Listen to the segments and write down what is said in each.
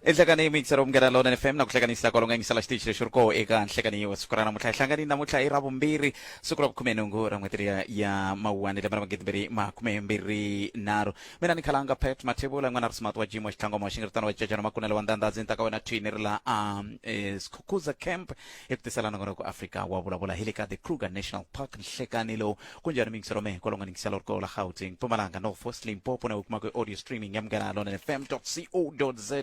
enhlekani yi mixer umngena lona fm na ku hlekanisa kwalonga yingisela xitichi lexi ri koho eka nhlekanyi wa siku ra namuntlha hi hlangani namuntlha i ra vumbirhi siku ra vukhume nhungu ra n'hweti ya mawuwani lembe ra magidibiri makume mbirhi nharhu mina ni khalanga pet mathevula n'wana ri smart wa jimo xitlangoma xi nga ri tano wa cecana makunelo wa ndandha ndzi ta ka wena thini ri la a eh, sikhukhuza camp hi ku tiselana ngona ku afrika wa vulavula hi le ka the kruger national park nhlekani lowu ku njhani mingisi rome kwalo nga ningisela ri kola gauteng mpumalanga north west limpopo na u kuma ku audio streaming ya munghana lona fm co za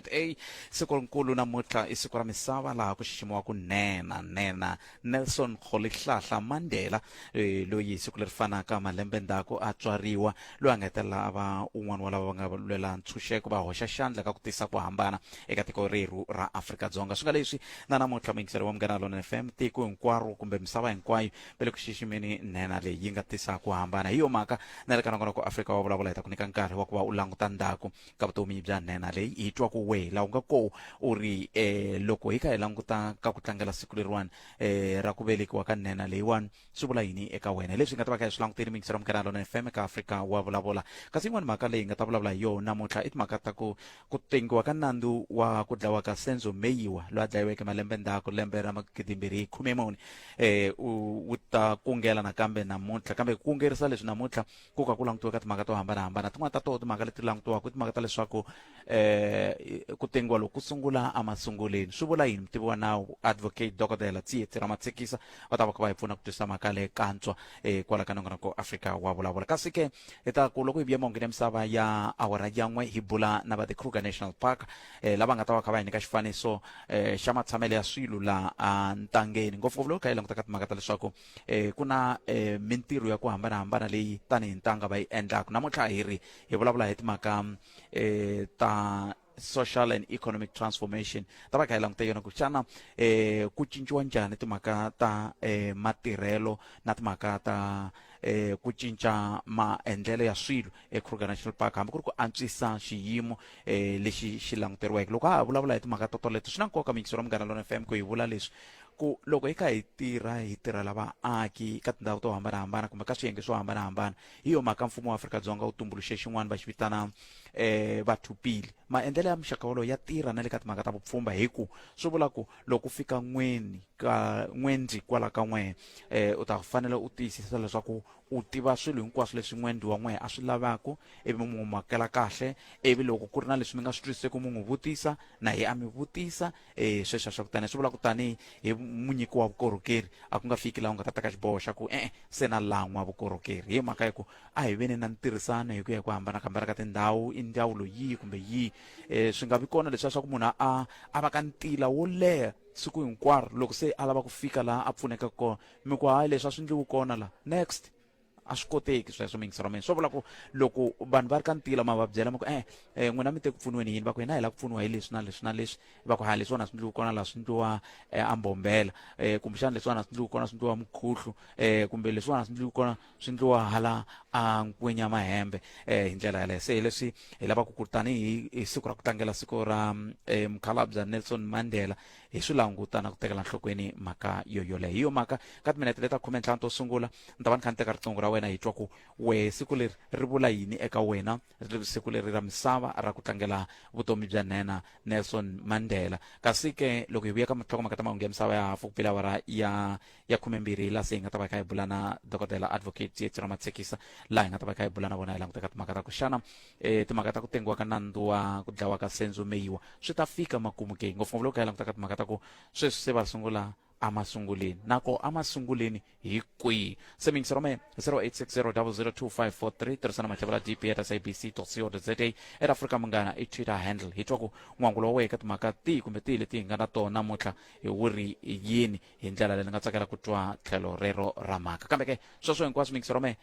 siku rinkulu namuntlha i siku ra misava laha ku xiximiwaka nena nena nelson rholihlahla mandela eh, loyi siku leri fanaka malembe ndzhaku a tswariwa loyi a nga hetelela a va un'wana wa lava va nga lwela ntshunxeko va hoxa xandla ka ku tisa ku hambana eka tiko rerhu ra afrika-dzonga swi nga leswi na namuntlha muyingiseri wa munghana lona f m tiko hinkwaro kumbe misava hinkwayo va le ku xiximeni nhenha leyi yi nga tisa ku hambana hi yo mhaka na le ka nongonoko afrika wa vulavula hi ta ku nyika nkarhi wa ku va u languta ndzhaku ka vutomi bya nhenha leyi hi twa ku wehe laha u nga ko u ri eh loko hi kha hi languta ka ku tlangela siku leriwani eh ra ku velekiwa ka nhenha leyiwani swi vula yini eka wena leswi hi nga ta va kha hi swi langutile mixero munghana lona fm eka afrika wa vulavula kasi yin'wani mhaka leyi hi nga ta vulavula hi yona namuntlha i timhaka ta ku ku tengiwa ka nandzu wa ku dlawa ka senzo meyiwa loyi a dlayiweke malembe ndzhaku lembe ra magidimbirhi hi khume muni eh u wu ta kungela nakambe namuntlha kambe ku kungerisa leswi namuntlha ku ka ku langutiweka timhaka to hambanahambana tin'wana ta toho timhaka leti langutiwaka i timhaka ta leswaku eh ku tengiwa loko ku sungula emasunguleni swi vula yini mutivi wa nawu advocate dokodela tsietsi ra matshikisa va ta va kha va hi pfuna ku twisisa mhaka leyi kantswa eh kwala ka nongonoko afrika wa vulavula kasi ke hi ta ku loko hi vuya mongini ya misava ya awara ya n'we hi bula na va the kruger national park eh lava nga ta va kha va hi nyika xifaniso eh xa matshamelo ya swilo laha ntangeni ngopfungopfu loko kha hi langutaka timhaka ta leswaku eh ku na eh mintirho ya ku hambanahambana leyi tanihi ntanga va yi endlaka namuntlha hi ri hi vulavula hi timhaka eh ta social and economic transformation ta va kha hi languta yona ku xana eh ku cinciwa njhani timhaka ta eh matirhelo na timhaka ta eh ku cinca maendlelo ya swilo eKruger National Park hambi ku ri ku antswisa xiyimo eh lexi xi languteriweke loko ha vulavula hi timhaka to toleto swi na nkoka mikiselo munghana lona FM ku hi vula leswi ku loko hi kha hi tirha hi tirhela vaaki ka tindhawu to hambanahambana kumbe ka swiyenge swo hambanahambana hi yo mhaka mfumo wa afrika-dzonga wu tumbuluxe xin'wana va xi vitana um eh, vathupili maendlelo ya muxaka wolowo ya tirha na le ka timhaka ta vupfhumba hi ku swi vula ku loko u fika n'weni ka n'wendzi kwala ka n'wehe eh, um u ta fanele u tiyisisa leswaku u tiva swilo hinkwaswo leswi n'wendzi wa n'wehe a swi lavaka ivi mi n'wi makela kahle ivi loko ku ri na leswi mi nga swi twisiseki mi n'wi vutisa na hi a mi vutisa e sweswo swa kutani swi vula ku tanihi hi munyiki wa vukorhokeri a ku nga fiki laha u nga ta teka xiboho xa ku e-e se na lan'wa vukorhokeri hi mhaka ya ku a hi veni na ntirhisano hi ku ya hi ku hambana kambana ka tindhawu i ndzawulo yihi kumbe yihi um swi nga vi kona leswiya swa ku munhu a a va ka ntila wo leha siku hinkwaro loko se a lava ku fika laha a pfuneka kona mi ku hayi leswi a swi ndliwi kona laha next a swi koteki sweswo mingiselo mina swo vula ku loko vanhu va ri ka ntila ma va byela ma ku eh, eh n'wina mi te ku pfuniweni yini va ku hina hi lava ku pfuniwa hi leswi na leswi na leswi va ku ha leswiwani a swi ndliwi kona laha swi ndliwa eh, ambombela eh, kumbexana leswiwani a swi ndliwi kona swi ndliwa mukhuhlu eh, kumbe leswiwani a swi ndliwi kona swi ndliwa hala a nkwenya mahembe eh, hi ndlela yaleyo se hi leswi hi lavaka ku tanihi hi siku ra ku tlangela siku ra eh, mukhalabya nelson mandela hi swi langutana ku tekela nhlokweni mhaka yoyoleyo hi yo mhaka ka timinete leta khume ntlhanu to sungula ni ta va ni kha ni teka riqingho ra wena hi twa ku wehe siku leri ri vula yini eka wena ri siku leri ra misava ra ku tlangela vutomi bya nhenha nelson mandela kasi ke loko hi vuya ka matlhokomaka ta mahungu ya misava ya hafu ku pela awara ya ya khumembirhi hi laha se hi nga ta va hi kha hi bula na dokodela advocate yetsira matsekisa laha hi nga ta va hi kha hi bula na vona hi languteka timhaka ta ku xana um timhaka ta ku tengiwa ka nandzu wa ku dlawa ka senzo meyiwa swi ta fika makumu ke ngopfungopfu loko hi kha hi langutaka timhaka ta ku sweswi se va sungula emasunguleni nako emasunguleni hi kwihi se mingisero me 0860002543 tirhisana matlhavela dp at sabc co za at africa munghana i twitter handle hi twa ku n'wangulo wa wena ka timhaka tihi kumbe tihi leti hi nga na tona namuntlha hi wu ri yini hi ndlela leyi ni nga tsakela ku twa tlhelo rero ra mhaka kambe ke sweswo hinkwaswo mingisero me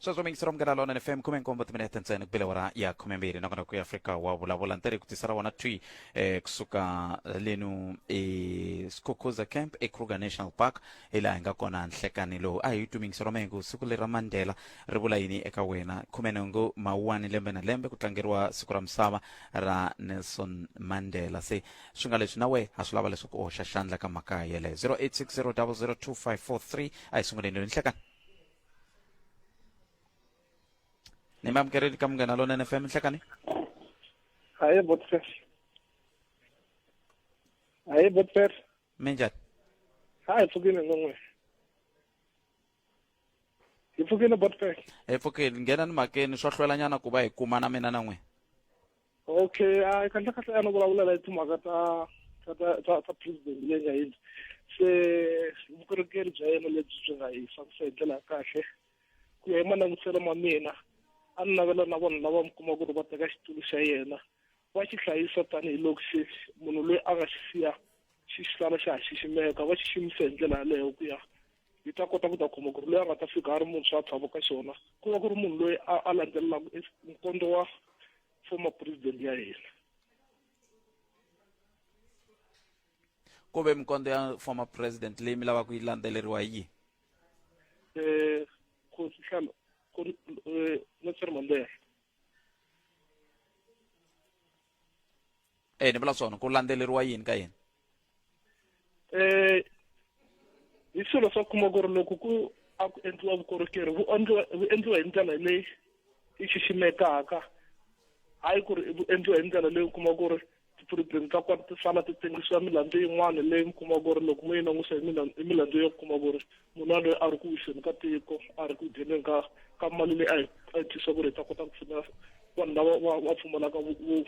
sweswo mingisira munghana lona ni fm khume nkombo timinete ntsena ku bilewa ra ya khume mbirhi nakona ku ya afrika wa vulavula ni tari ku tisa ra wona twi eh, kusuka lenu esikhukuza camp ekruger national park hi laha hi nga kona nhlekani lowu a hi twi mingisiro mengu siku leri ra mandela ri vula yini eka wena khume nhungu mawuwani lembe na lembe ku tlangeriwa siku ra misava ra nelson mandela se swi nga leswi na we ha swi lava leswaku u hoxa xandla ka mhaka yeleyo 0860 a hi sunguleni lweni nhlekani ni mi amukerile ka munghana lonene fm nhlekani hayi botfer hayi botfer mi njhani ha hi pfukile non'we hi pfukile botfer hi pfukile nghenani makeni swo hlwelanyana ku va hi kuma na mina na n'wina okay a kahlekahle a no vulavula hi timhaka ta ta ta ta president leyi nga yini se vukorhokeri bya yena lebyi byi nga hi fambisa hi ndlela ya kahle ku ya hi malangutiselo ma mina a ni navela na vanhu lava mi kuma ku ri va teka xitulu xa yena va xi hlayisa tanihiloko xi munhu loyi a nga xi siya xi sala xa ha xiximeka va xiximisa hi ndlela yaleyo ku ya yi ta kota ku ta khoma ku ri loyi a nga ta fika a ri muntshwa a tlhava ka xona ku va ku ri munhu loyi a landzelelaka nkondo wa former president ya hina ku ve mikondo ya former president leyi mi lavaka ku yi landzeleriwa hi yihi um khosi hlalo eh, nelson mandela e ni vula swona ku landzeleriwa yini ka yini um hi swilo swa kuma ku ri loko ku a ku endliwa vukorhokeri vu endliwa vu endliwa hi ndlela leyi yi xiximekaka hayi ku ri vu endliwa hi ndlela leyi u kuma ku ri ti-problem ta kona ti sala ti tengisiwa milandzu yin'wana leyi mi kuma ku ri loko mo yi langusa hi milandzu yo kuma ku ri munhu loyi a ri ku wiseni ka tiko a ri ku dyeneni ka ka mali leyi a yi a yi tisa ku ri ta kota ku pfuna vanhu lava va va pfumalaka vu- vu-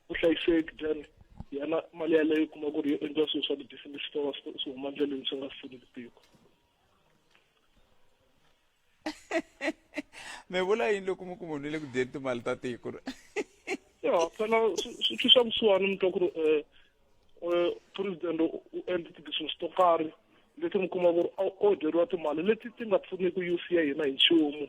vuhlayiseki then yena mali yaleyo u kuma ku ri yo endla swilo swa ti-business swi ta va swi swi huma ndleleni swi nga pfuni tiko mi vula yini loko mi ku munhu le ku dyeni timali ta tiko ya phela swi tshwisa vusiwana mi twa ku ri um um president u endle ti-business to karhi leti mi kuma ku ri o dyeriwa timali leti ti nga pfuniki youth ya hina hi nchumu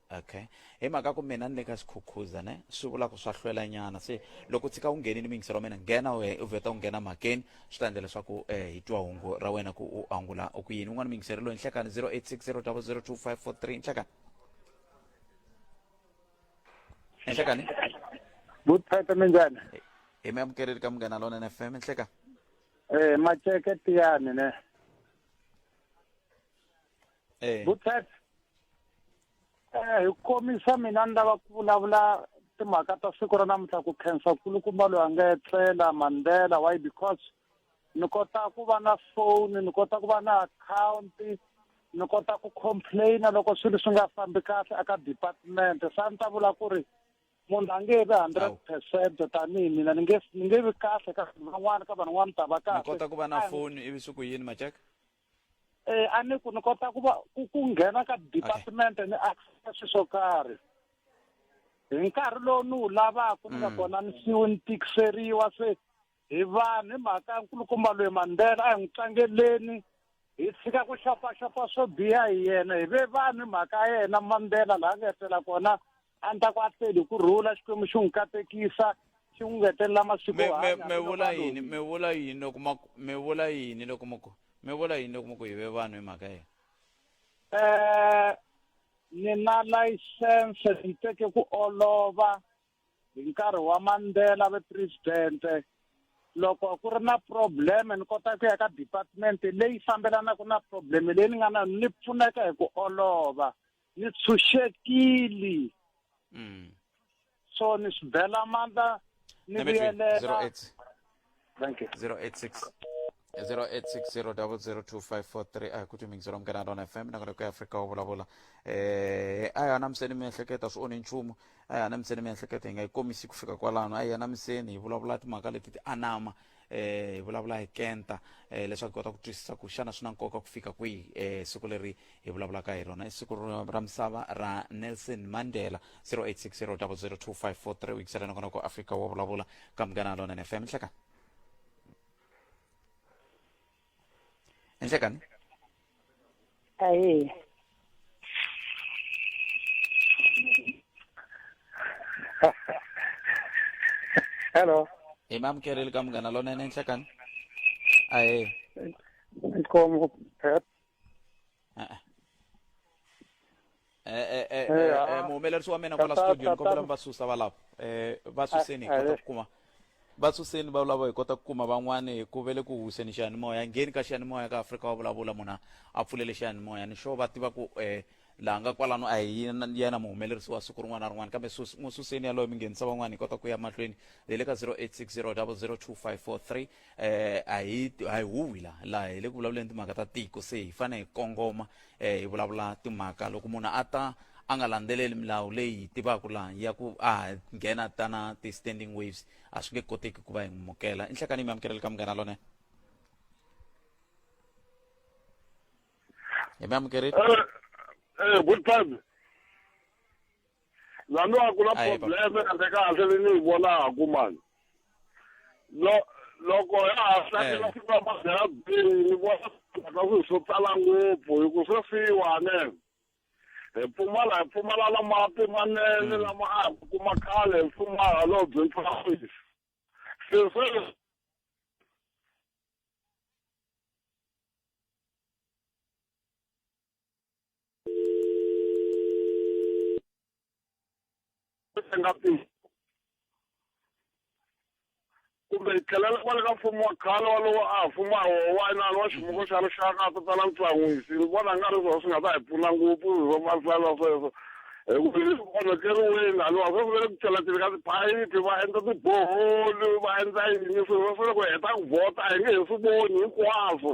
okay hi mhaka ku mina ni le ka xikhukhuza ne swi vula ku swa hlwela nyana se loko tshika u nghenile miyingiselo wa mina nghena we u vheta u nghena mhakeni swi ta endla leswaku um hi twa hungu ra wena ku u angula ku yini un'wana miyingiselo loyi nhlekani 0860002543 nhlekani nhlekani vuthata minjani hi mi amukeleri ka munghana lona n fm nhleka um eh, maceke tiyani ne eh. butset eh hi komisa mina ni lava ku vulavula timhaka ta siku ra namuntlha ku khensa kulukumba loyi a nga etlela mandela why because ni kota ku va na phone ni kota ku va na account ni kota ku complaina loko swilo swi nga fambi kahle aka department sa ni ta vula ku ri munhu a nge vi hundred percent tanihi mina ni nge ni nge vi kahle ka van'wana ka van'wana ta va kahle ni kota ku va na foni ivi swi ku yini majeka eh a ni ku ni kota ku va ku ku nghena ka department ni access swilo swo karhi hi nkarhi lowu ni wu lavaka ni nga Mm. kona ni siwe ni tikiseriwa se hi vanhu hi mhaka ya nkulukumba loyi mandela a hi n'wi tlangeleni hi tshika ku xopaxopa swo biha hi yena hi ve vanhu hi mhaka ya yena mandela laha nga etlela kona a ni ta ku a feli hi ku rhula xikwembu xi n'wi katekisa xi n'wi ngetelela masiku mi yo mi- hanya mi hambiloko vula a yini mi vula yini loko ma ku- mi vula yini loko ma ku mi vula yini loko ma ku yive vanhu hi mhaka yena Eh, ni na layisense ni teke ku olova hi nkarhi wa mandela ve presidente loko ku ri na probleme ni kota ku ya ka department leyi fambelanaka na probleme leyi ni nga na yona, ni pfuneka hi ku olova ni tshunxekili mm. so ni swi bela mandla ni Let me drink. vuyelela 08 thank you 086 0860002543 a hi ku timingisi ra munghana rona fm na kona ku afrika wa vulavula eh a hi anamiseni miehleketo a swi onhi nchumu a hi anamiseni miehleketo hi nga yi komisi ku fika kwalano a hi anamiseni hi vulavula timhaka leti ti anama eh hi vulavula hi kenta eh leswaku kota ku twisisa ku xana swi na nkoka ku fika kwihi eh siku leri hi vulavulaka hi rona i siku ra misava ra Nelson Mandela 0860002543 wikisela nakona ku Africa wo vulavula ka munghana lona FM hleka Enhle kani? Ayi. Hello. Hi mamukeri le ka munghana lonene enhle kani? Ahe. Nkomo. Ah, ah. Eh, eh, eh, eh, ah, eh, muhumelerisi wa mina kwala studio ni kombela mi va susa valavo eh, va suseni hi kota ku kuma va suseni va vulavo hi kota ku kuma van'wani hi ku vele ku huseni xiyanimoya ngheni ka xiyanimoya ka afrika wa vulavula munhu a pfulele xiyanimoya ni xo va tiva ku um laha nga kwalano a hi yena muhumelerisi wa siku rin'wana na rin'wana kambe n'wi suseni yaloyo mi nghenisa van'wani hi kota ku ya mahlweni hi le ka 0860 002 543 eh a hi a hi huwi la la hi le ku vulavuleni timhaka ta tiko se hi fane hi kongoma eh hi vulavula timhaka loko munhu a ta a nga landzeleli milawu leyi hi tivaka la ya ku a nghena ta na ti-standing waves a swi nge koteki ku va hi mukela i nhlekani mi amukeleli ka munghana lone hi mi amukerile eh, eh, good time lani a ku na Ayi, papa. probleme ende kahle leyi ni yi vonaku mani Lo- loko ya ha Eh. hlakela siku ra mabyela bihi ni vona ka swilo swo tala ngopfu hi ku swi fiwane hi pfumala hi pfumala na mati manene lama a hi kuma khale hi pfumala lowu byi ntshwafisi se se nga phi kumbe hi tlhelela kwale ka mfumo wa khale walowo a mfumo a wowanani wa ximuko xa rixaka a ta tala ntsan'wisi ni vona nga ri swona swi nga ta hi pfuna ngopfu hi swa mahlala sweswo hikuva swi onhakeriweni haniwa swa swi ve le ku cheleteni ka tiphayiphi va endla tiboholi va endla yini swilo swa swi le ku heta ku vhota a hi nge he swi voni hinkwaswo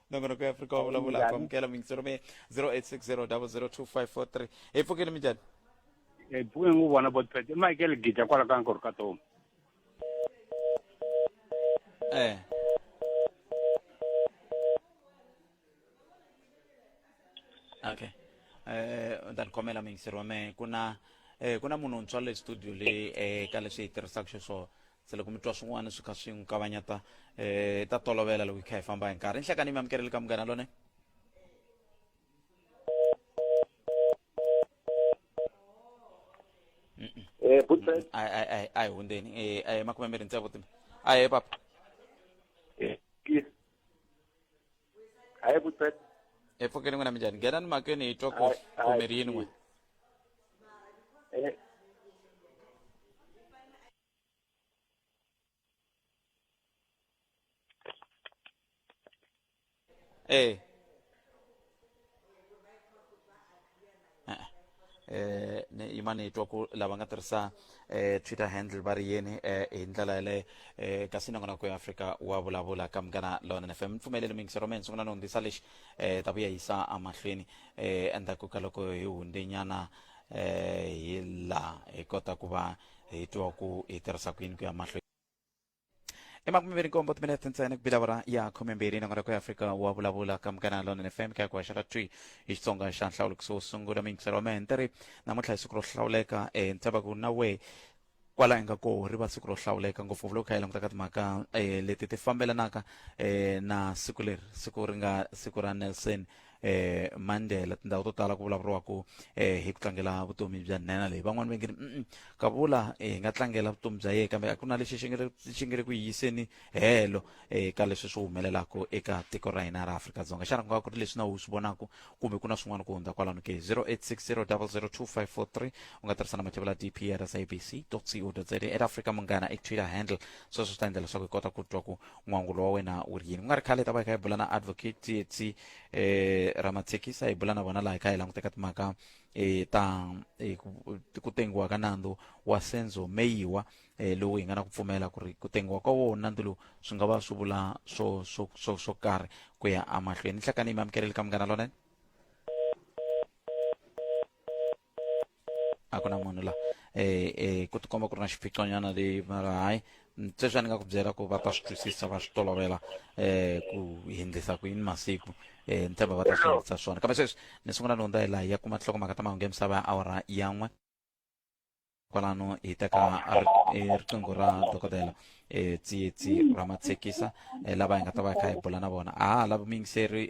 nongonoko ya afrika wa vulavula Njhani? ku amukela miyingiselo mi 0860002543 hi pfukile minjhani Eh, pfuke ngu vona botpet i michael gija kwala ka nkori ka tomu eh okay eh u ta ni khomela miyingiselo wa mehe ku na eh ku na munhu wuntshwa le studio le eh ka leswi hi tirhisaka xiswona se loko mi twa swin'wana swi kha swi n'wi kavanyeta um ta tolovela loko hi kha hi famba hi nkarhi nhlekani mi amukeleli ka munghana lone eh, a hi hundzeni eh, a hi makume mbirhi ntsevu timi a hi papa eh, a hi vutsek e pfukeni n'wina minjhani nghenani makeni hi twa ku kumiri yin'we ايه eh ne yimani hi twa ku lava nga tirhisa eh twitter handle va ri yini eh hi ndlela yaleyo eh kasi nongonoko ya afrika wa vulavula ka munghana lona fm mi pfumelele mingisi ro mina sungula ni hundzisa lexi eh ta vuya yisa amahlweni eh endzhaku ka loko hi hundenyana eh hi laha hi kota ku va hi twa ku hi tirhisa ku yini ku ya mahlweni emakume mbirhi nkombo timinete ntsena ku bilavura ya khume mbirhi nangona ku ya afrika wa vulavula ka mukana lona fm ka ku haxa ka twi hi xitsonga xa nhlawulo kusuhi sungula miyingiselo wa mehe ni ri namuntlha hi siku ro hlawuleka e ni tshava ku na wehe kwala inga ko ri va siku ro hlawuleka ngopfungopfu loko kha hi languta ka timhaka um leti ti fambelanaka um na siku leri siku ri nga siku ra nelson um mandela tindhawu to tala ku vulavuriwaku um hi ku tlangela vutomi bya nhenha leyi van'wani va nge ni ka vula hi nga tlangela vutomi bya yena kambe a ku na lexi xi nge xi nge le ku yiyiseni helo eka leswi swi humelelaka eka tiko ra hina ra afrika-dzonga xana ku nga ku ri leswi na u swi vonaka kumbe ku na swin'wana ku hundza kwalano ke 0860002543 u nga tirhisa na mativula dp ya sabc co za at africa munghana i twitter handle sweswo swi ta endla leswaku hi kota ku twa ku n'wangulo wa wena wu ri yini ku nga ri khale hi ta va hi kha hi bula na advocate tsietsi um eh, ramathekisa hi bula na vona laha hi kha hi languteka timhaka um ta eh, ku tengiwa ka nandzu wa senzo meyiwa eh, lowu hi nga na ku pfumela ku ri ku tengiwa ka wona nandzu lowu swi nga va swi vula swo swo swo swo karhi ku ya amahlweni hlakani mi amukeleli ka munghana lonene a ku na munhu la eh eh ku tikomba ku ri na xiphiqonyana leyi mara hayi sweswi a ni nga ku byela ku va ta swi twisisa va swi tolovela eh ku hindlisa ku yini masiku eh ni tshemba va ta swi hindlisa swona kambe sweswi ni sungula ni hundza hi laha ya kuma nhlokomhaka ta mahungu ya misava ya awara yan'we kwalano hi teka riqingho ra dokodela um tsietsi ra matshekisa um lava hi nga ta va hi kha hi bula na vona a ha lavi muyingiseri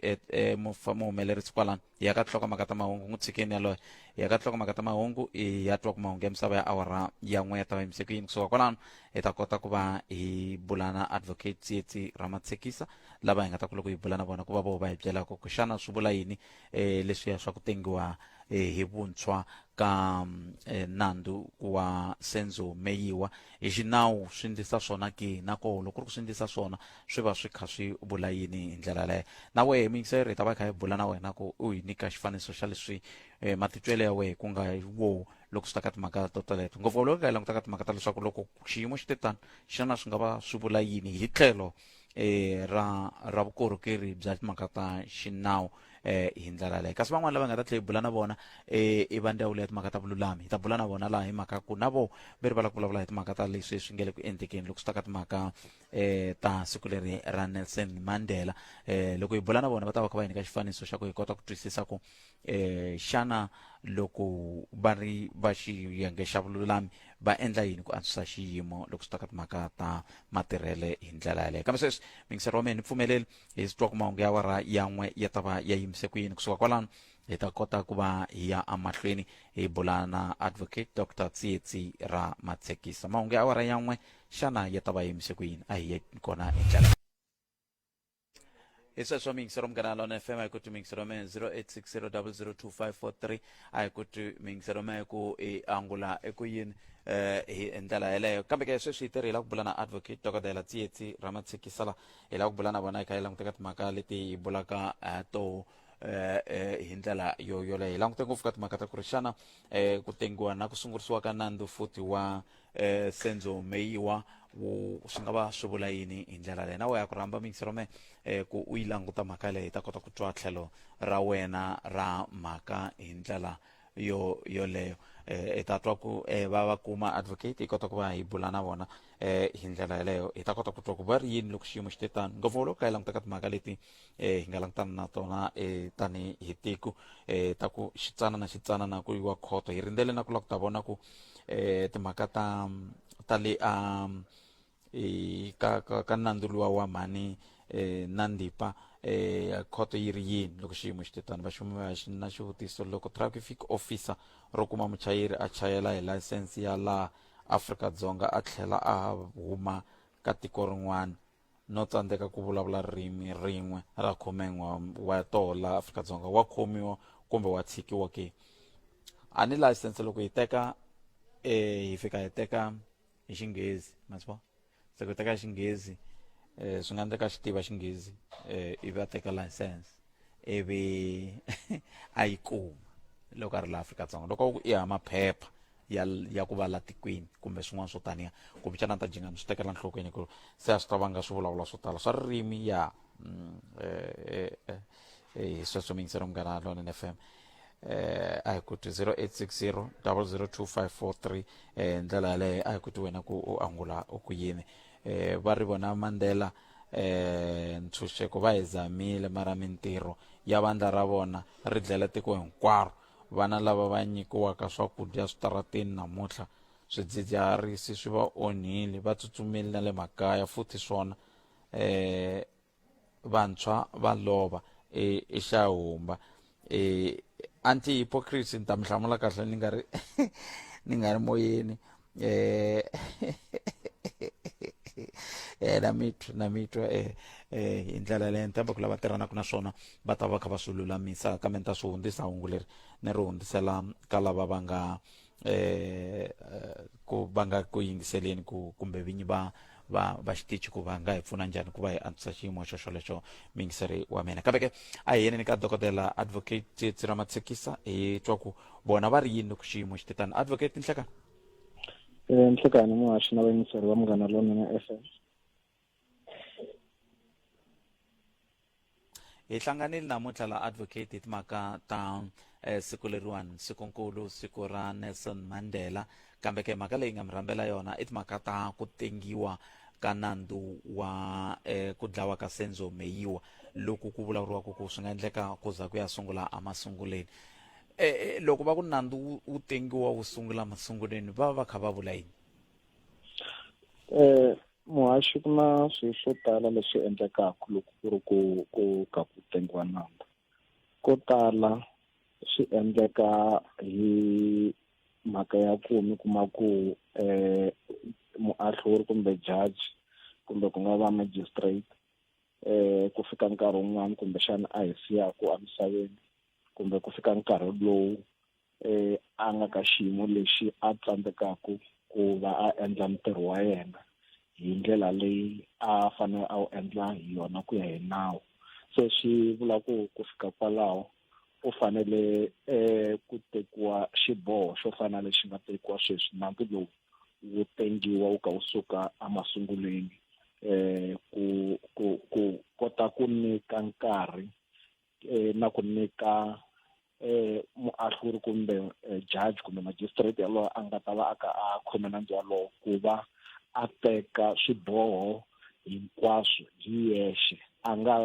um muhumelerisi kwalano hi ya ka tinhlokomhaka ta mahungu n'wi tshikeni yaloye hi ya ka tinhlokomhaka ta mahungu hi ya twa ku mahungu ya misava ya awara ya n'we ya ta va yimise ku yini kusuka kwalano hi ta kota ku va hi bula na advocate tsietsi ra matshekisa lava hi nga ta ku loko hi bula na vona ku va vo va hi byelaka ku xana swi vula yini eh, leswiya swa ku tengiwa eh, hi vuntshwa ka mm, eh, nandzu wa senzo meyiwa hi xinawu swi ndlisa swona ki na koho loko ri ku swi ndlisa swona swi va swi kha swi vula yini hi ndlela leyo na wehe miyingiseri hi ta va hi kha hi bula na wena ku u hi nyika xifaniso xa leswi eh, matitwelo ya wehe ku nga hi wo loko swi ta ka timhaka to teleto ngopfu loko hi langutaka timhaka ta leswaku loko xiyimo xi te tani xana swi nga va swi vula yini hi tlhelo eh, ra ra vukorhokeri bya timhaka ta xinawu eh hi ndlela leyo kasi van'wana lava nga ta tlhela hi bula na vona eh i va ndzawulo ya timhaka ta vululami hi ta bula na vona laha hi mhaka ku na vo ve ri va lava ku vulavula hi timhaka ta leswi swi nge le ku endlekeni loko swi ta ka timhaka eh ta siku leri ra nelson mandela eh loko hi bula na vona va ta va kha va hi nyika xifaniso xa ku hi kota ku twisisa ku eh xana loko va ri va xiyenge xa vululami va endla yini ku antswisa xiyimo loko swi ta ka timhaka ta matirhele hi ndlela yaleyo kambe sweswi mingiseri wa mina ni pfumeleli hi swi twa ku mahungu ya wara yan'we ya ta va ya yimise ku yini kusuka kwalano hi ta kota ku va hi ya emahlweni hi bula na advocate dr tsietsi ra matshekisa mahungu ya awara yan'we xana ya ta va yimise ku yini a hi ye kona hi ndlela hi sweswo miyingiselo munghana on fm a hi ku ti miyingiselo me 0860002543 a hi ku ti miyingiselo me ku i angula eku yini eh hi ndlela yeleyo kambe ke sweswi hi tirhela ku bula na advocate dokodela tsietsi ramatshikisala hi la ku bula na vona hi kha hi languteka timhaka leti hi bulaka eh, to eh, eh, hi ndlela yo yoleyo hi langute ngopfu ka timhaka ta ku ri xana eh, ku tengiwa na ku sungurisiwa ka nandzu futhi wa eh senzo meyiwa wu swi nga va swi vula yini hi ndlela leyi na we ya ku rhamba mixrome eh ku u yi languta mhaka leyi hi ta kota ku twa tlhelo ra wena ra mhaka hi ndlela yo yoleyo eh hi ta twa ku eh va va kuma advocate hi kota ku va hi bula na vona eh hi ndlela yeleyo hi ta kota ku twa ku va ri yini loko xiyimo xi te tano ngopfungopfu loko ka hi langutaka timhaka leti e hi nga langutana na tona e tani hi tiko e ta ku xitsanana xitsanana ku yiwa khoto hi rindzele na ku lava ku ta vona ku e timhaka ta ta le a e, ka ka, ka nandzu luwa wa mhani e, na ndipa e khoto yi ri yini loko xiyimo xi te tani vaxumi va xi na xivutiso loko traffic officer ro kuma muchayeri a chayela hi layisense ya laha afrika dzonga a tlhela a huma ka tiko rin'wana no tsandzeka ku vulavula ririmi rin'we ra khumen'wa wa toho laha afrika-dzonga wa khomiwa kumbe wa tshikiwa ke a ni layisense loko hi teka eh hi fika hi teka hi xinghezi ma swi vona se ku teka xinghezi eh swi nga endleka xi tiva xinghezi eh ivi a teka license ivi a yi kuma loko a ri la afrika-dzonga loko u ya maphepha ya ya ku va la tikweni kumbe swin'wana swo taniya kumbe xana ta jinga ni swi tekela nhlokweni ku se a swi ta vanga swi vulavula swo tala swa ririmi ya mm, eh, eh, eh, hi sweswo mingisero munghana lonen f m eh a hi kuti 0860 002543 eh ndlela yaleyo a hi kuti wena ku u angula ku yini eh, va ri vona mandela eh, ntshunxeko va hi zamile mara mintirho ya vandla ra vona ri dlela tiko hinkwaro vana lava va nyikiwaka swakudya switarateni namuntlha swidzidziharisi swi va onhile va tsutsumile na le makaya futhi swona eh vantshwa va lova e, exahumba e, anti hypocrisy ni ta mi hlamula kahle ni nga ri ni nga ri moyeni um eh, eh, na mitwa na mitwa um eh, um hi ndlela leyo ni tshemba ku lava tirhanaka na swona va ta va kha va swi lulamisa kambe ni ta swi hundzisa hungu leri ni ri hundzisela ka lava va nga eh, eh, ku va nga ku yingiseleni ku kumbe vinyi va va va xitichi ku va nga hi pfuna njhani ku va hi antswisa xiyimo xo xolexo muyingiseri wa mina kambe ke a hi yeneni ka dokodela advocate tsiramatsekisa hi twa ku vona va ri yini loko xiyimo xi te tani advocate nhlekani Eh, nhlekani muhaxi na vayingiseri va munghana lonene fm hi hlanganile namuntlha la advocate hi timhaka ta eh, siku leriwani sikunkulu siku ra nelson mandela kambe ke mhaka leyi nga mi rhambela yona i timhaka ta ku tengiwa ka nandzu wa eh, ku dlawa ka senzo meyiwa loku ku vulavuriwaka ku swi nga endleka ku za ku ya sungula emasunguleni e, eh, e, eh, loko va ku nandzu wu tengiwa wu sungula masunguleni va va va kha va vula yini um Muhaxi, ku na swilo swo tala leswi endlekaka loko ku ri ku ku ka ku tengiwa nandza. Ko tala swi endleka hi mhaka ya ku mi kuma ku um muahluri kumbe jaji kumbe ku nga va magistrate um ku fika nkarhi wun'wani kumbexana a hi siyaku emisaveni kumbe ku fika nkarhi lowu eh, a nga ka xiyimo lexi a tsandzekaku ku va a endla ntirho wa yena hi ndlela leyi a fanele a wu endla hi yona ku ya hi nawu se swi vula ku ku fika kwalaho u fanele um ku tekiwa xiboho xo fana lexi nga tekiwa sweswi nandzu lowu wu tengiwa wu ka wu suka emasungulweni um ku ku ku kota ku nyika nkarhi um na ku nyika eh muahluri kumbe eh, judge kumbe magistrate yalowo a nga ta va a ka a khome nandzu walowo ku va a teka swiboho hinkwaswo hi yexe a nga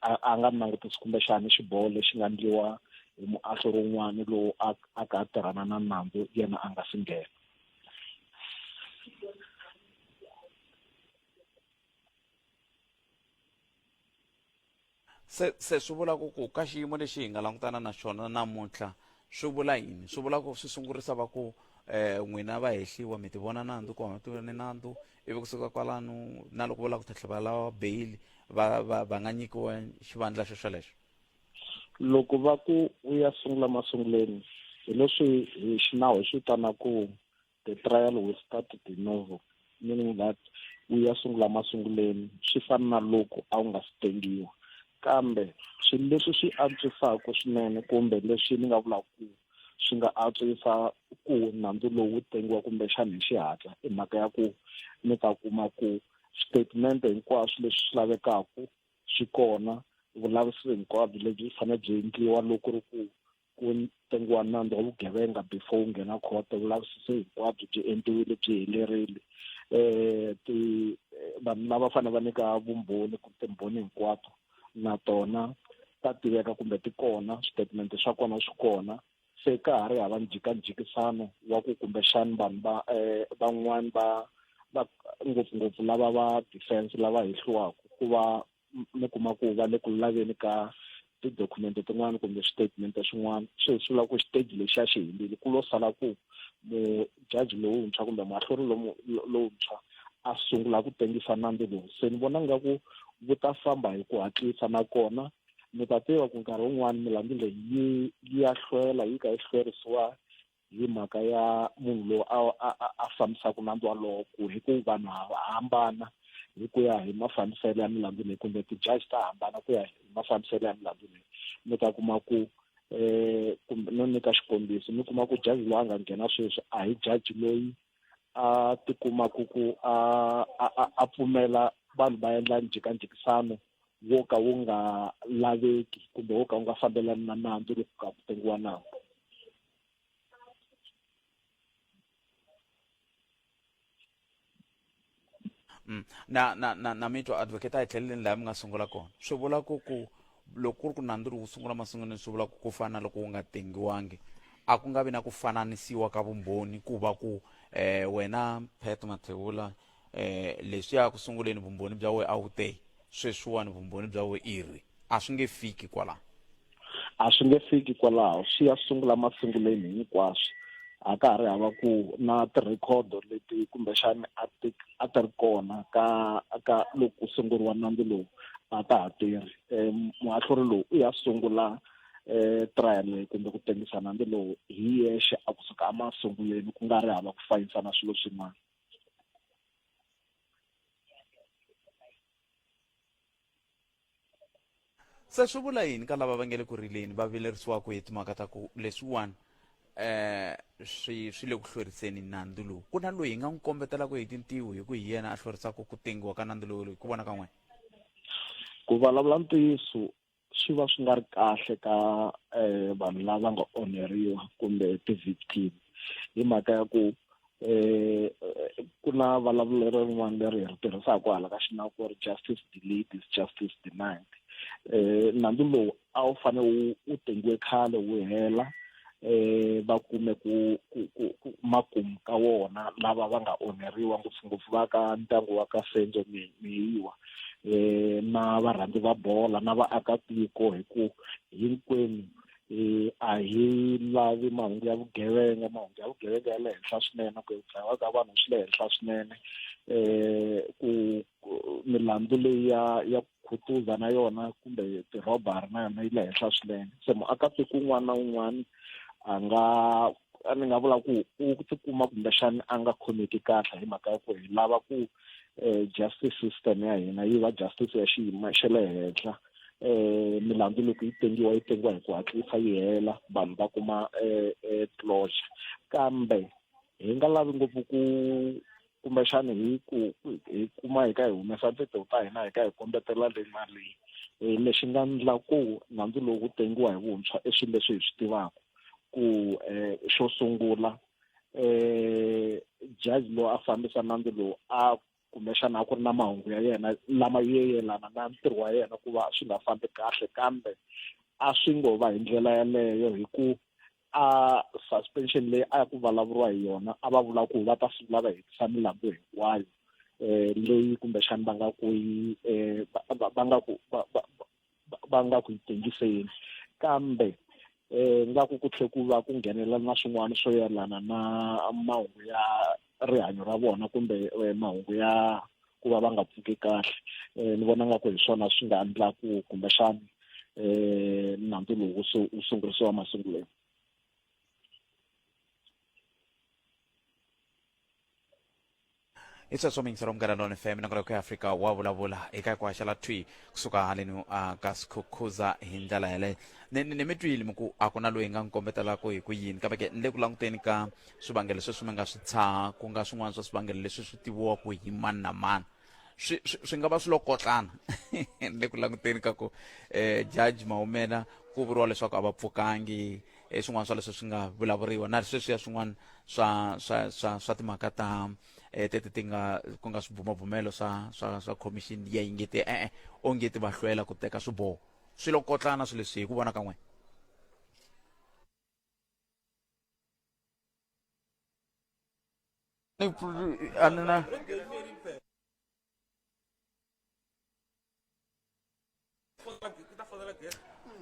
a- a nga langutisi kumbexani xiboho lexi nga ndliwa hi muahlo rin'wana lowu a a ka a tirhana na nandzu yena a nga si nghena Se, se swi vula ku ku ka xiyimo lexi hi nga langutana na xona namuntlha swi vula yini swi vula ku swi sungurisa va ku eh n'wina va hehliwa mi ti vona nandzu ku hava tivoni nandzu ivi kusuka kwalano na loko va lava ku tlhatlha va lava bail va va va nga nyikiwa xivandla xo xolexo loko va ku u ya sungula masunguleni hi leswi hi xinawu hi swi vitanaku The trial will start de novo, meaning that wu ya sungula masunguleni swi fana na loko a wu nga si tengiwa kambe swilo leswi swi antswisaka swinene kumbe leswi ni nga vulaka ku swi nga antswisa ku nandzu lowu tengiwa kumbexana hi xihatla i mhaka ya ku mi ta kuma ku statement hinkwaswo leswi swi lavekaka swi kona vulavisisi hinkwabyo lebyi fanele byi endliwa loko ri ku ku tengiwa nandzu wa vugevenga before wu nghena court vulavisisi hinkwabyo byi endliwile byi helerile um ti vanhu lava fanele va nyika vumbhoni ku timbhoni hinkwato na tona ta tiveka kumbe ti kona switatimende swa kona swi kona se ka ha ri hava njikanjikisano wa ku kumbexani vanhu va um van'wani va va ngopfungopfu lava va defense lava hehliwaku ku va mi kuma ku va le ku laveni ka tidokumende tin'wana kumbe switatimende swin'wana swi hi sula ku xiteji lexi a xi helile ku lo sala ku mujaji lowuntshwa kumbe mahlori lowuntshwa a sungula ku tengisa nandzu lowu se ni vona nga ku wu ta famba hi ku hatlisa nakona mi ta tiva ku nkarhi wun'wani milandzu leyi yi ya hlwela yi ka yi hlwerisiwa hi mhaka ya munhu loyi a a a fambisaka nandzu walowo ku hi ku vanhu hava hambana hi ku ya hi mafambiselo ya milandzu leyi kumbe ti-judge ta hambana ku ya hi mafambiselo ya milandzu leyi mi ta kuma ku um kumbe no nyika xikombiso mi kuma ku jaji loyi a nga nghena sweswi a hi jaji loyi a tikumaku ku a a a pfumela vanhu va endla njhekanjhekisano wo ka wu nga laveki kumbe wo ka wu nga fambelani na nandzu loko ka ku tengiwa nandzu Mm. na na na na mi twa advocate a hi tlheleleni laha mi nga sungula kona swi vula ku ku loko ku ri ku nandzu lowu sungula masunguleni swi vula ku ku fana loko wu nga tengiwangi a ku nga vi na ku fananisiwa ka vumbhoni ku va ku eh wena Pat Mathewula eh leswiya ku sunguleni vumbhoni bya we a wu te sweswiwani vumbhoni bya we i ri a swi nge fiki kwalaho a swi nge fiki kwalaho swi ya sungula masunguleni hinkwaswo a ka ha ri hava ku na tirhikhodo leti kumbexani a ti a ti ri kona ka ka loko ku sunguriwa nandzu lowu a ta ha tirhi um muahluri lowu u ya sungula um trial leyi kumbe ku tengisa nandzu lowu hi yexe a kusuka emasungulweni ku nga ri hava ku fayisana swilo swin'wana se swi vula yini ka lava va nge le ku rileni va vilerisiwaka hi timhaka ta ku leswiwani eh swi swi le ku hlweriseni nandzu lowu ku na loyi hi nga n'wi kombetelaka hi tintiho hi ku hi yena a hlwerisaka ku tengiwa ka nandzu lowu hi ku vona ka n'wina ku vulavula ntiyiso swi va swi nga ri kahle ka eh, vanhu lava nga onheriwa kumbe ti-victim hi mhaka ya ku eh ku na vulavulelo rin'wana leri hi ri tirhisaka hala ka xinawu ku ri justice delayed is justice denied eh nandzu lowu a wu fane wu wu tengiwe khale wu hela eh va kume ku ku ku ku makumu ka wona lava va nga onheriwa ngopfungopfu va ka ndyangu wa ka Senzo Mi- Mihiwa eh na varhandzi va bola na vaakatiko hi ku hinkwenu eh a hi lavi mahungu ya vugevenga mahungu ya vugevenga ya le henhla swinene ku dlayiwa ka vanhu swi le henhla swinene eh ku milandzu leyi ya ya khutuza na yona kumbe tirhobari na yona yi le henhla swinene se muakatiko un'wana na un'wana a nga a ni nga vula ku u tikuma kumbexani a nga khomeki kahle hi mhaka ya ku hi lava ku um justice system ya hina yi va justice ya xiyimo xa le henhla um milandzu loko yi tengiwa yi tengiwa hi ku hatlisa yi hela vanhu va kuma um closure kambe hi nga lavi ngopfu ku kumbexana hi ku hi kuma hi ka hi humesa tito ta hina hi ka hi kombetela le na le eh, lexi nga ndla ku nandzu lowu wu tengiwa hi vuntshwa i swilo leswi hi swi tivaka ku eh, xo sungula eh jaji loyi a fambisa nandzu lowu a kumbexana a ku ri na mahungu ya yena lama yelana na ntirho wa yena ku va swi nga fambi kahle kambe a swi ngo va hi ndlela yaleyo hi ku a suspension leyi a ku vulavuriwa hi yona a va vula ku va ta sungula va hetisa milambu hinkwayo um leyi kumbexani va nga ku yi um va nga ku va nga ku yi tengiseni kambe um nga ku ku tlhe ku va ku nghenelela na swin'wana swo yelana na mahungu ya rihanyo ra vona kumbe eh, mahungu ya ku va va nga pfuki kahle um ni vona nga ku hi swona swi nga endlaku kumbexani um nandzu lowu wu sungurisiwa masungulweni i sweswo mingiselo munghana lona fm nakona ku ya afrika wa vulavula eka ku haxela thwi kusuka haleni uh, ka sikhukhuza hi ndlela yeleyo ni mi twile mi ku a ku na loyi nga n'wi kombetelaku hi ku yini kambe ke ni le ku languteni ka swivangelo sweswi mi nga swi tshaha ku nga swin'wana swa swivangelo leswi swi tiviwaka hi mani na mani swi swi nga va swi lokotlana le ku languteni ka ku eh judge maumela ku vuriwa leswaku a va pfukangi eh, swin'wana swa leswi swi nga vulavuriwa na sweswiya swin'wana swa swa swa swa timhaka ta eh tete ti nga ku nga swibumabumelo swa swa swa commission ya yingeti e-e eh, onge ti va hlwela ku teka swiboho swi lokotlana swi leswi hi ku vona ka n'wina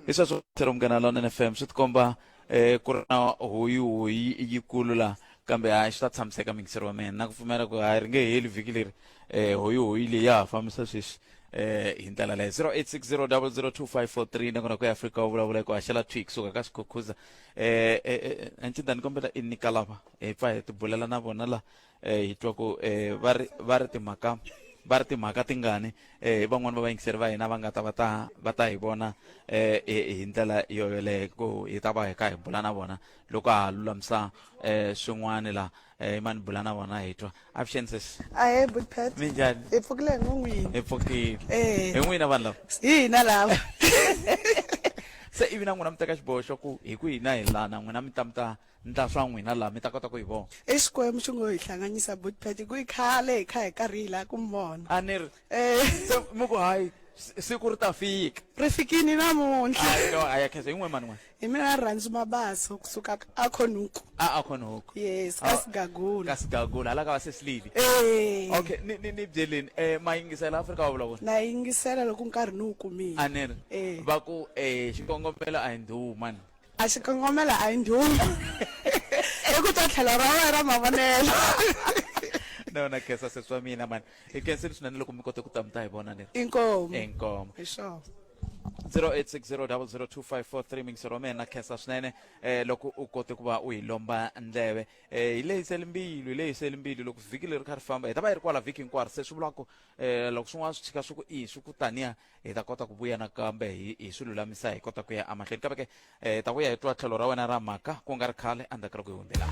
i swa swo tlhela munghana lona nfm swi tikomba um ku ri na hoyi hoyi yikulu laha kambe hayi swi ta tshamiseka mingiseri wa mina na ku pfumela ku hayi ri nge heli vhiki leri um hoyi hoyi leyi ya ha fambisa sweswi um hi ndlela leyo zero eight six zero double zero two five four three nakona ku ya afrika wu vulavula hi ku haxela twix suka ka swikhukhuza eh, eh, eh, ancinda ni kombela i nyika lava hi pfa hi tibulela na vona la eh, hi twa ku eh, va ri va ri timhaka va ri timhaka tingani eh, hi van'wani va vayingiseri va hina va nga ta va ta va ta hi vona eh, hi hi ndlela yoyoleyo ku hi ta va hi kha hi bula na vona loko ha lulamisa eh, swin'wani la eh, i mani bula na vona hi twa avuxeni sesi ahe budpat mi njhani hi pfukile hi ngo n'wini hi pfukile Eh. hi n'wina vanhu lava hi hina lava se ivi na n'wina mi teka xiboho xa ku hi ku hina hi lana n'wina mi ta mi ta ndla swa n'wina laha mi ta kota ku hi vona exikwembu xi ngo hi hlanganyisa budpat hi ku i khale hi kha hi karhi hi laha ku mi vona a ni ri Eh, se mi ku hayi si- siku ri ta fika ri fikini namuntlha. Hayi, no, hayi, akhe, hi n'we mani n'we Hi mina Rhandzu Mabaso kusuka a Khonuku. a a khona huku Yes, ka Sigagula. ka sigagula hala ka va sesilili Eh. okay ni ni ni byeleni eh ma yingisela afrika wa vulavula Na yingisela loko nkarhi ni wu kumile. a ni ri Eh. va ku eh xikongomelo a hi ndhuwu mani A xi kongomela a yi ndhuma. Hi ku ta tlhelo ra wena ra mavonelo. na yona khesa sesi wa mina mani hi khensile swinene loko mi kote ku ta mi ta hi vona leri inkomo inkomo hi swona 0860002543 mingisero wa mina khensa swinene eh loko u kote ku va u hi lomba ndleve eh hi leyi selimbilu hi leyi selimbilu loko vhiki leri kha ri famba hi ta va yi ri kwala vhiki hinkwaro se swi vula ku eh loko swin'wana swi chika swi ku i swi ku taniya hi ta kota ku vuya nakambe hi hi swi lulamisa hi kota ku ya emahlweni kambe ke eh hi ta vuya hi twa tlhelo ra wena ra mhaka ku nga ri khale endzhaku ka loko hi hundzela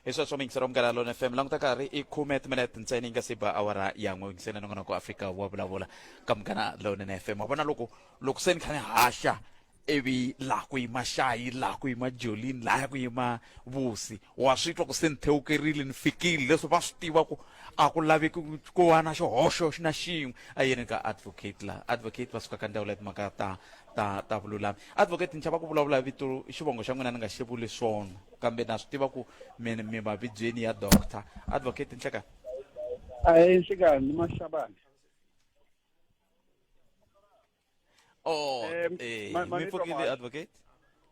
hi sweswo mixero munghana lona fm languta karhi i khume timinete ntsena yi nga si ba awara ya n'we ngisena nongonoko afrika wa vulavula ka munghana lowunene fm wa vona loko loko se ni kha ni haxa ivi laha ku yima xayi laha ku yima jolini laha ku yima vusi wa swi twa ku se ni thewukerile ni fikile leswi va swi tiva ku a ku laveki ku va na xihoxo na xin'we a yini ka advocate laha advocate va suka ka ndzawulo ya timhaka ta ta ta vululami advocate ni chava ku vulavula vito xivongo xa n'wina ni nga xi vuli swona kambe na swi tiva ku mi mi mavibyeni ya doctor advocate nhleka ayi nhlekani maxabani oh eh, eh mi pfukile advocate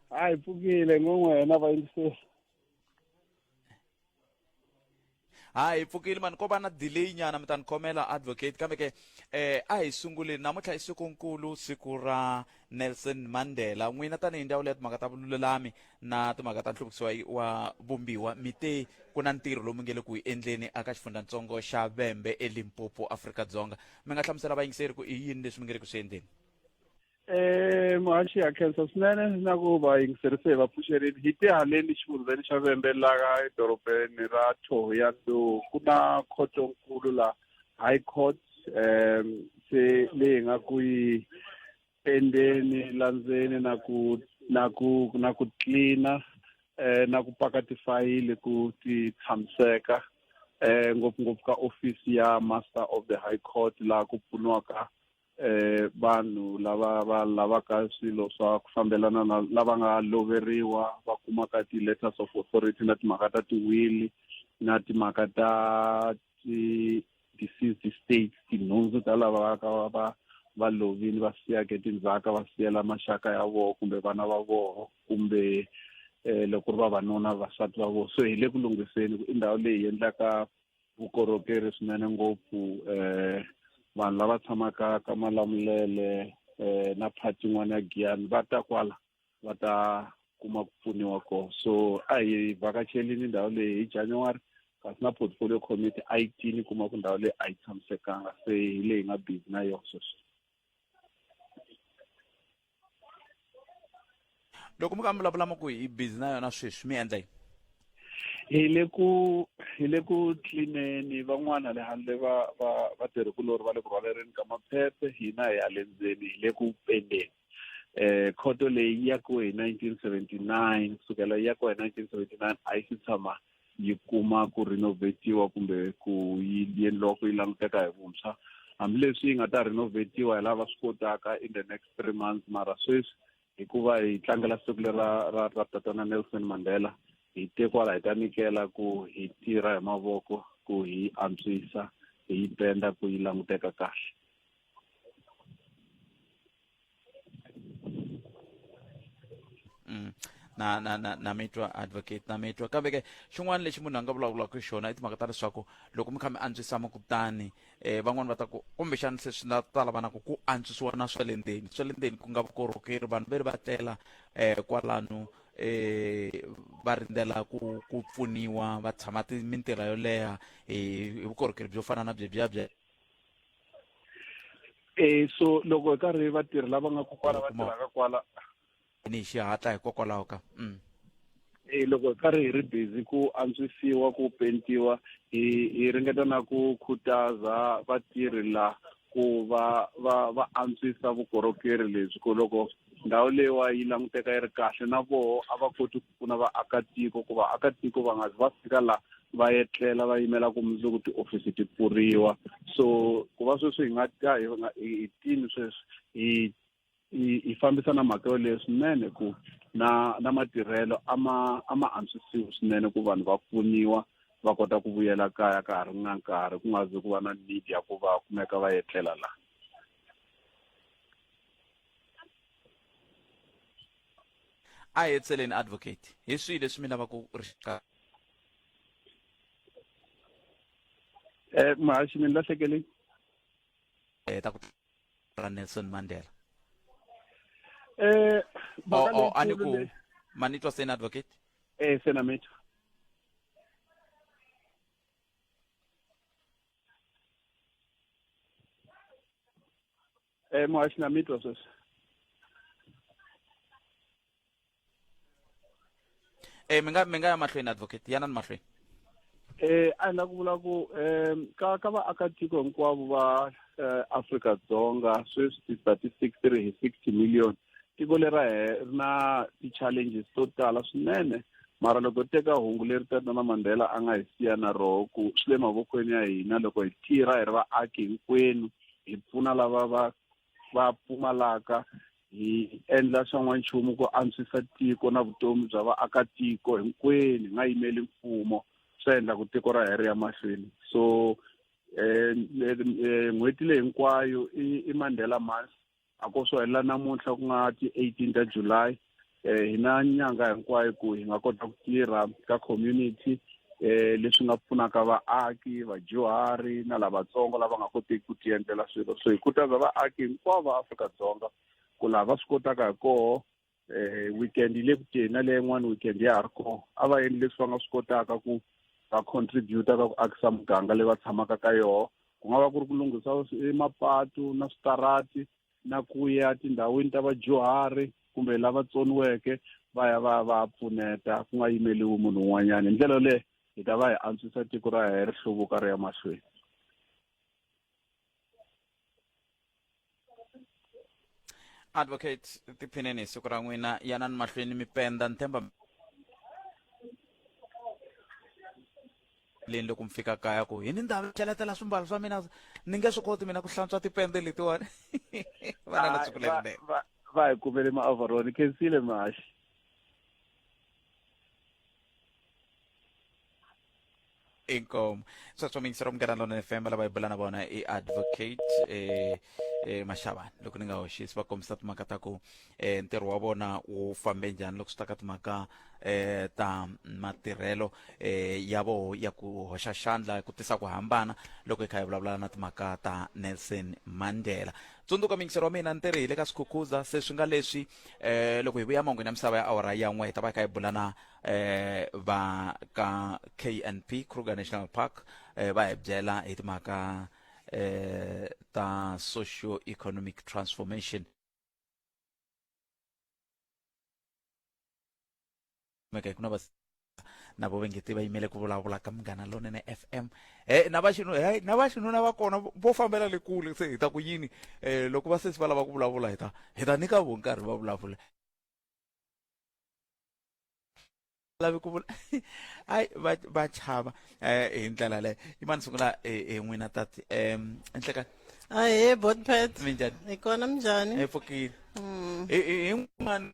hayi pfukile ngongwena vayingiseli ha hi pfukile mani ko va na delay nyana mi ta ni khomela advocate kambe ke eh a hi sunguleni namuntlha i sikunkulu siku ra nelson mandela n'wina tanihi ndzawulo ya timhaka ta vululami na timhaka ta nhluvukiso wa- wa vumbiwa mi te ku na ntirho lowu mi nge le ku wu endleni aka xifundzatsongo xa vembe elimpopo afrika dzonga mi nga hlamusela vayingiseri ku i yini leswi mi nge le ku swi endleni Eh, muhaxi ya khensa swinene na ku va yingiserise hi vapfuxerini hi te haleni xifundzheni xa vembe laha edorobeni ra thohoyando ku na khotonkulu la high court um se leyi nga ku yi endeni landzeni na ku na ku na ku tlina um eh, na ku paka tifayili ku ti tshamiseka um ngopfungopfu ka ofisi ya master of the high court laha ku pfuniwaka eh vanhu lava va lavaka swilo swa ku fambelana na lava nga loveriwa va kumaka ti-letters of authority na timhaka ta tiwili na timhaka ta ti-deceased states tinhundzu ta lava va ka va va va lovile va siyake tindzhaka va siyela maxaka ya vona kumbe vana va vona kumbe um loko ri vavanuna vasati va vona so hi le ku lunghiseni i ndhawu leyi endlaka vukorhokeri swinene ngopfu um vanhu lava tshamaka ka malamulele um na phati yin'wana ya giyani va ta kwala va ta kuma ku pfuniwa kona so a hi vhakacherini ndhawu leyi hi january kasi na portfolio committee a yi tini kuma ku ndhawu leyi a yi tshamisekanga se hi leyi nga busy na yona sweswi loko mi ka mi vulavula mi ku hi busy na yona sweswi mi endla yini hi le ku hi le ku tlineni van'wana le handle va va va tirhikulori va le ku rhwalereni ka maphephe hina hi ya le ndzeni hi le ku pendeni eh khoto leyi ya ku hi 1979 kusukela ya ku hi 1979 a yi si tshama yi kuma ku renovatiwa kumbe ku yi yendliwa ku yi languteka hi vuntshwa hambileswi yi nga ta renovatiwa hi lava swi kotaka in the next three months mara sweswi hikuva hi tlangela siku lera ra ra tatana Nelson Mandela hi te kwala hi ta nikela ku hi tirha hi mavoko ku hi antswisa hi yi penda ku yi languteka kahle Mm. na na na na mi twa advocate na mi twa kambe ke xin'wana lexi munhu a nga vulavulaka hi xona i timhaka ta leswaku loko mi kha mi antswisa makutani um van'wani va ta ku kumbexana se swi na ta lavanaku ku antswisiwa na swa le ndzeni swa le ndzeni ku nga vukorhokeri vanhu ve ri va tlela um kwalano um va rindzela ku ku pfuniwa va tshama ti mintirha yo leha hi hi vukorhokeri byo fana na byebyiya bye e so loko hi karhi vatirhi lava nga ku kwala va tirhaka kwala ni hi xihatla hikokwalaho ka mm. e loko hi karhi hi ri busy ku antswisiwa ku pentiwa hi hi ringeta na ku khutaza vatirhi la ku va va va antswisa vukorhokeri lebyi ku loko ndhawu leyiwa yi languteka yi ri kahle na voho a va koti ku pfuna vaakatiko ku vaakatiko va nga va fika la va etlela va yimela ku mundzuku tiofisi ti pfuriwa so ku va sweswi hi nga ta hi tini sweswi hi hi fambisa na mhaka yoleyo swinene ku na na matirhelo a ma a ma antswisiwi swinene ku vanhu va pfuniwa va kota ku vuyela kaya ka ha ri na nkarhi ku nga zi ku va na need ya ku va kumeka va etlela laha a hetseleni advocate hi swihi leswi mi lava ku ri xiqala eh mahaxi mi lahlekele eh ta ku ra Nelson Mandela eh ba ka le ani ku manitwa sena advocate eh sena metwa Eh muhashi na mitwa sweswi. Eh mi nga mi nga ya mahlweni advocate yana ni mahlweni. Eh a ni la ku vula ku eh ka ka vaakatiko hinkwavo va eh, Afrika Dzonga sweswi ti-statistics ti ri hi 60 million tiko leri ra he- ri na ti-challenges to tala swinene mara loko hi teka hungu leri tatana Mandela a nga hi siya na roho ku swi le mavokweni ya hina loko hi tirha hi ri vaaki hinkwenu hi pfuna lava va va pfumalaka hi endla swa n'wanchumu ku antswisa tiko na vutomi bya vaakatiko hinkwenu hi nga yimeli mfumo swi endla ku tiko ra heri ya mahlweni so um n'hweti leyi hinkwayo i i mandela month a ko swo helela namuntlha ku nga ti-eighteen ta july um hi na nyanga hinkwayo ku hi nga kota ku tirha ka community um leswi nga pfunaka vaaki vadyuhari na lavatsongo lava nga kotiki ku tiendlela swilo so hi khutaza vaaki hinkwavo va afrika dzonga ku laha va swi kotaka hi koho eh weekend yi le ku teni na leyi yin'wana weekend ya ha ri kona a va endli leswi va nga swi kotaka ku va contributa ka ku akisa muganga leyi va tshamaka ka yona ku nga va ku ri ku lunghisa emapatu na switarati na ku ya tindhawini ta vadyuhari kumbe lava tsoniweke va ya va va pfuneta ku nga yimeliwi munhu un'wanyana hi ndlela yoleyo hi ta va hi antswisa tiko ra hina ri hluvuka ri ya mahlweni advocate tiphineni hi siku ra n'wina yanani mahlweni mi penda ni tshemba leni loko mi fika kaya ku hi ni ndhawu cheletela swimbalo swa mina ni nge swi koti mina ku hlantswa tipende letiwani va na na siku lerinene va hi kumele ma-overall khensile mashi inkomo so swa mingisera munghana lona fm lava hi bula na vona i advocate eh, eh, mashavana loko ni nga hoxisi va kombisa timhaka ta ku eh, ntirho wa vona wu fambe njhani loko swi ta ka timhaka eh, ta matirhelo eh, ya voho ya ku hoxa xandla ku tisa ku hambana loko hi kha hi vulavula na timhaka ta nelson mandela tsundzuka mingisero wa mina ntirhi hi le ka swikhukhuza se swi nga leswi eh loko hi vuya mangwini ya misava ya awara ya n'we hi ta va hi kha hi bula na eh va ka knp kruger national park eh va hi byela hi timhaka eh ta socio economic transformation meka ku na va na vo vengeti va yimele ku vulavula ka munghana lonene fm e na va xinu hey, na va xinuna va kona vo fambela le kule se hi ta ku yini um loko va sesi va lava ku vulavula hi ta hi ta nyika vo nkarhi va vulavula lavi ku vula hayi va va chava um hi ndlela leyo yi mani sungula hi n'wina tati um nhlekan ahe botpet minjani hi kona minjani hi pfukile hin'wana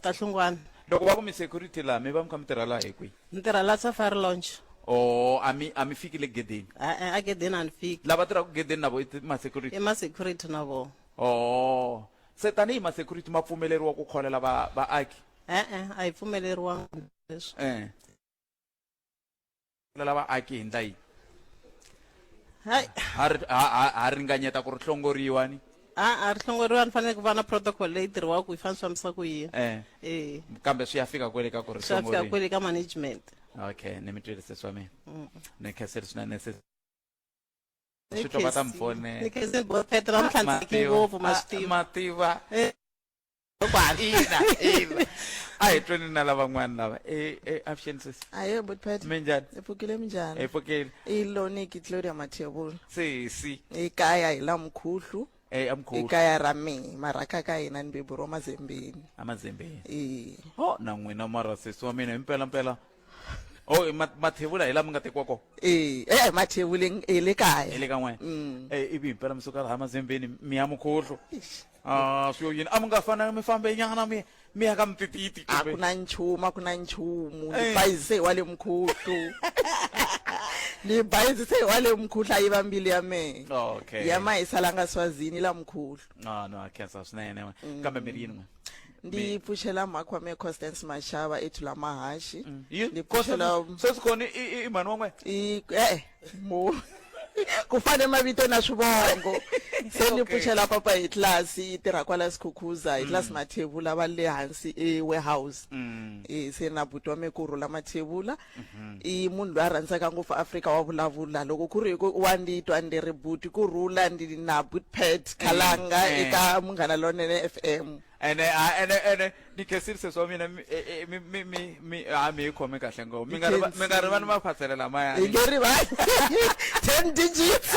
Kahlungwana. Loko va ku mi security laha mi va mi kha mi tirha laha hi kwihi? Ni tirha la Safari Lounge. Oh, a mi a mi fiki le gedeni. E-e, a gedeni a ni fiki. Lava tirhaka gedeni na vo i ma security? I ma security na vo. Oh, se tanihi ma security ma pfumeleriwa ku kholela va vaaki? E-e, a hi pfumeleriwanga leswi. E. lela vaaki hi ndla yihi hayi ha ri- ha- ha- ha ringanyeta ku ri hlongoriwa ni a a ri hlongoriwa ni fanele ku va na protocol leyi tirhiwaka yi fanele swi fambisa ku yini Eh. eh kambe swi ya fika kwele ka ku ri swi ya fika hlongoriwa kwele ka management okay ni mi twirise swa mina ni kheseri swinene se swi twa va ta mi ni fone khese bo petra mutlandzeki ngopfu ma swi tiva mativa Eh. a hi tweni na lavan'wana lava e, e, avuxeni sisi ayo but pat mi njhani hi pfukile mi njhani hi pfukile i loniki gloria mathevula sisi hi kaya hi la mukhuhlu e, amkhuhlu ekaya ra mina marhaka ka hina ni bebu ro mazembeni amazembeni e o na n'wina mara sisi wa mina himpela mpela o i ma- mathevula hi lama nga tekiwa kona e e mathevuleng e le kaya hi le ka n'wena Mm. Eh, ivi himpela mi suka laha mazembeni mi ya mukhuhlu Eish. Ah, swi yo yini a mi nga fana mi fambe nyana mi mi ya ka mitititi a ku na nchumu a ku na nchumu ni Eh. bayizise hi wa le mukhuhlu ni bayizise hi wa le mukhuhlu a yi va mbilu ya mehe okay ya ma yi salanga swazini la mukhuhlu no no a khensa swinene we. kambe mi ri yini n'we ndi pfuxela mhakwa me constance mashava ethu la mahaxi Yi- ni pfuxela Constance- sweswi kona i- i- i mhani wa n'wena i e-e mo ku fane mavito na swivongo se ni pfuxela papa hi tlasi yi tirha kwala sikhukhuza hi tlasi mm. mathevula va le hansi e-warehouse mm. e, se na buti wa me ku rhula mathevula mm-hmm. i munhu loyi a rhandzaka ngopfu afrika wa vulavula loko ku ri hi ku wa ndi twa ndi ri buti ku rhula ndi na butpet khalanga mm. eka munghana lonene f m ene a ene ene ni khesirise swa mina mi e- e- mi mi mi mi a mi yi khomi kahle ngopfu mi nga ri va- mi nga ri vani va khwatsele lamaya Hi nge rivali. 10 digits.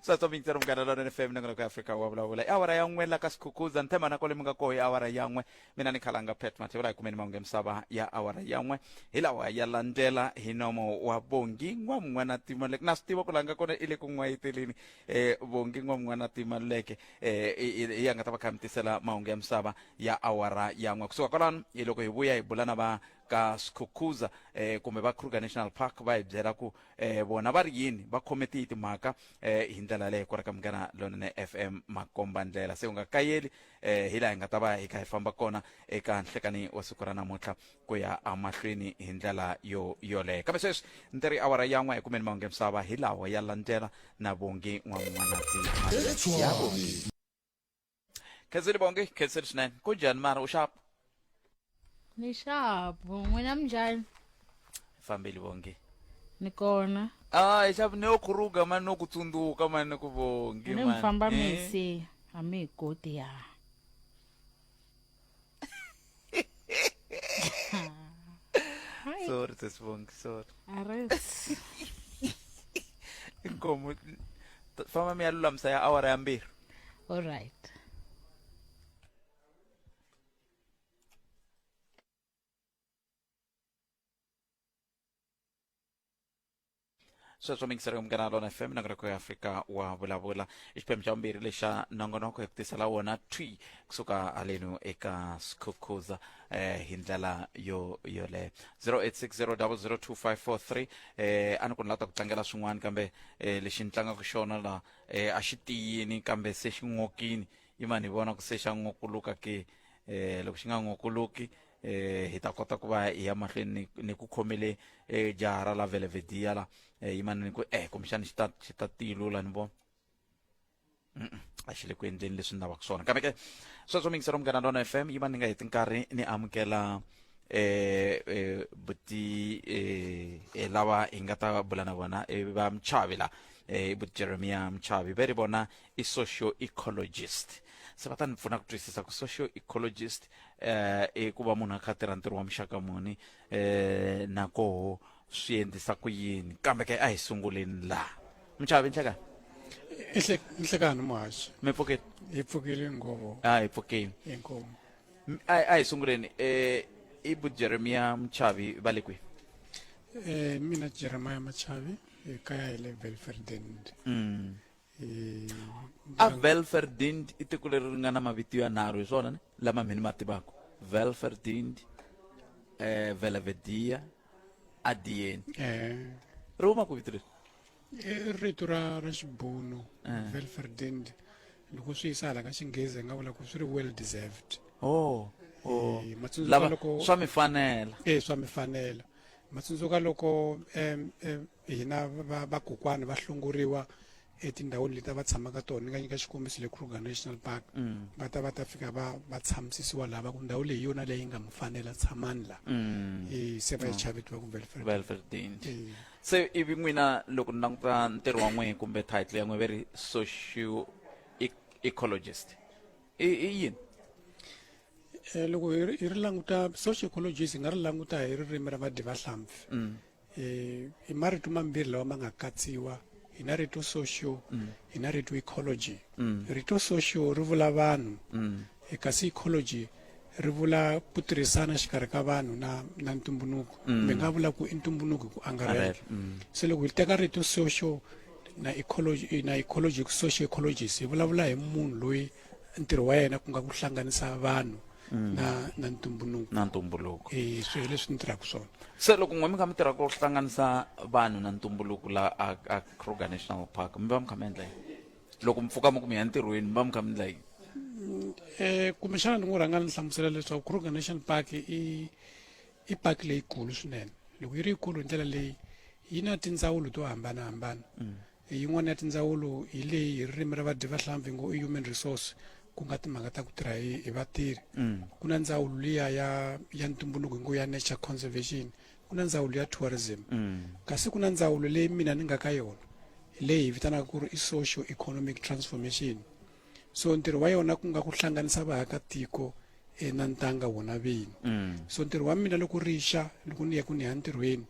swa tsomi yitsero munghana lona ni femi nangonoko ya afrika wa vulavula i awara ya n'we la ka sikhukhuza nthema na kwale mi nga koho i awara ya n'we mina ni khalanga pet mathevula hi kumeni mahungu ya misava ya awara ya n'we hi lawa ya landzela hi nomo wa bongi n'wa mun'wana timaleke na swi tiva ku langa kona i le ku n'wayiteleni um bongi n'wa mun'wana timaleke eh, i- i- i ya nga ta va kha mi tisela mahungu ya misava ya awara ya n'we kusuka kwalano hi loko hi vuya hi bula na va ka skhukhuza eh, kumbe va kruger national park va hi byela ku eh, vona va ri yini va khome tihi timhaka eh, hi ndlela leyo ku ri ka munghana lonene fm makomba ndlela se u nga kayeli eh, hi laha hi nga ta va hi kha hi famba kona eka nhlekani wa siku ra namuntlha ku ya amahlweni hi ndlela yo yoleyo kambe sweswi ni teri awara ya n'we hi kumeni mahungu ya misava hi lawa ya landzela na vongi n'wan'wanati khenseli vongi khenseli swinene ku njhani mara u xapu ni xapu n'wina minjhani fambeli vongi ni kona a hi xapu ni yo khuruga mani no ku tsundzuka mani ku vongi ni mi famba misi a mi hi koti ya Sorry, this one, sorry. Arrest. Inkomo fama miyalulamisa ya awara ya mbirhi. All right. sweswo mingiseri ya munghana lona fm nongonoko ya afrika wa vulavula i xiphemu xa vumbirhi lexa nongonoko hi ku tisela wona twi kusuka halenu eka skhukhuza eh, hi ndlela yo yoleyo 0860002543 eh, a ni ku ni lata ku tlangela swin'wana kambe eh, lexi ni tlangaka xona la eh, a xi tiyini kambe se xi n'okini yimani hi vona ku se xa n'okuluka ke eh, loko xi nga n'okuluki eh hi ta kota ku va hi ya mahlweni ni, ni ku khomele eh, jaha ra la velevedia la eh, yimanini ku eh kumbexani xi ta xi ta tilula ni vona Mm-mm, a xi le ku endleni leswi ni lavaka swona kambe ke sweswo mi yingisela munghana lona fm yi va ni nga heti nkarhi ni amukela eh eh buti eh eh, lava hi nga ta bula na vona eh, va mchavi la eh i buti jeremia mchavi ve ri vona i socio ecologist se va ta ni pfuna ku twisisa ku socio ecologist eh i ku va munhu a kha tirha ntirho wa muxaka muni eh na koho swi endlisa ku yini kambe ke a hi sunguleni la muchavi nhlekani nhlekani muhaxi mi pfukile hi pfukile nghovo a hi pfukile inkomu a hi sunguleni eh i bu jeremiya muchavi va le kwihi eh mina jeremiya muchavi ekaya hi le belferdend mm. a velverdind i tiko leri ri nga na mavito yanharhu hi swona ni lama mhini ma tivaka velverdind eh, velevedia adien eh ri huma ku vito leri i rito ra ra xibunu Eh. velverdind loko swi yisa hala ka xinghezi hi nga vula ku swi ri well deserved oh, oh. Eh, matsundzuka lava loko- swa mi fanela eh swa mi fanela ma tsundzuka loko um um hina vakokwani va hlongoriwa etindhawini leti va tshamaka tona ni nga nyika xikombiso le kruger national park mm. va ta va ta fika va va tshamusisiwa lava ku ndhawu leyi yona leyi nga mu fanela tshamani la mm. e, se va yi mm. chavetiwa ku velferdin e. se ivi n'wina loko ni languta ntirho wa n'wehe kumbe title ya n'we ve ri socio e, ecologist i yini Eh, loko hi ri languta social ecologies hi nga ri languta hi ririmi ra vadivahlampfi mm. eh, hi marito mambirhi lawa ma nga katsiwa hi na rito social mm. hi na rito ecology mm. rito social ri vula vanhu eh, kasi ecology ri vula ku tirhisana xikarhi ka vanhu na na ntumbuluko mi nga vula ku i ntumbuluko ku angarhela se loko hi teka rito social na ecology na ecology social ecologies hi vulavula hi munhu loyi ntirho wa yena ku nga ku hlanganisa vanhu mm. na na ntumbuluko na ntumbuluko eh swi leswi ni tirhaka swona se loko n'we mi kha mi tirha ku hlanganisa vanhu na ntumbuluko la a, a Kruger National Park mi va mi kha mi endla yini loko mi pfuka mi ku mi ya ntirhweni mi va mi kha mi endla yini mm, eh kumbexana ni n'wi rhanga ni hlamusela leswaku Kruger National Park i i park leyikulu swinene loko yi ri yikulu hi ndlela leyi yi na tindzawulo to hambanahambana mm. Yin'wana ya tindzawulo hi leyi hi ririmi ra vadyivahlampfi ngo i human resource ku nga timhaka ta ku tirha hi hi vatirhi mm. ku na ndzawulo liya ya ya ntumbuluko hi ngo ya nature conservation ku na ndzawulo ya tourism mm. kasi ku na ndzawulo leyi mina ni nga ka yona leyi hi vitanaka ku ri i social economic transformation so ntirho wa yona ku nga ku hlanganisa vaakatiko e, na ntanga wona vini mm. so ntirho wa mina loko rixa loko ni ya ku ni ya ntirhweni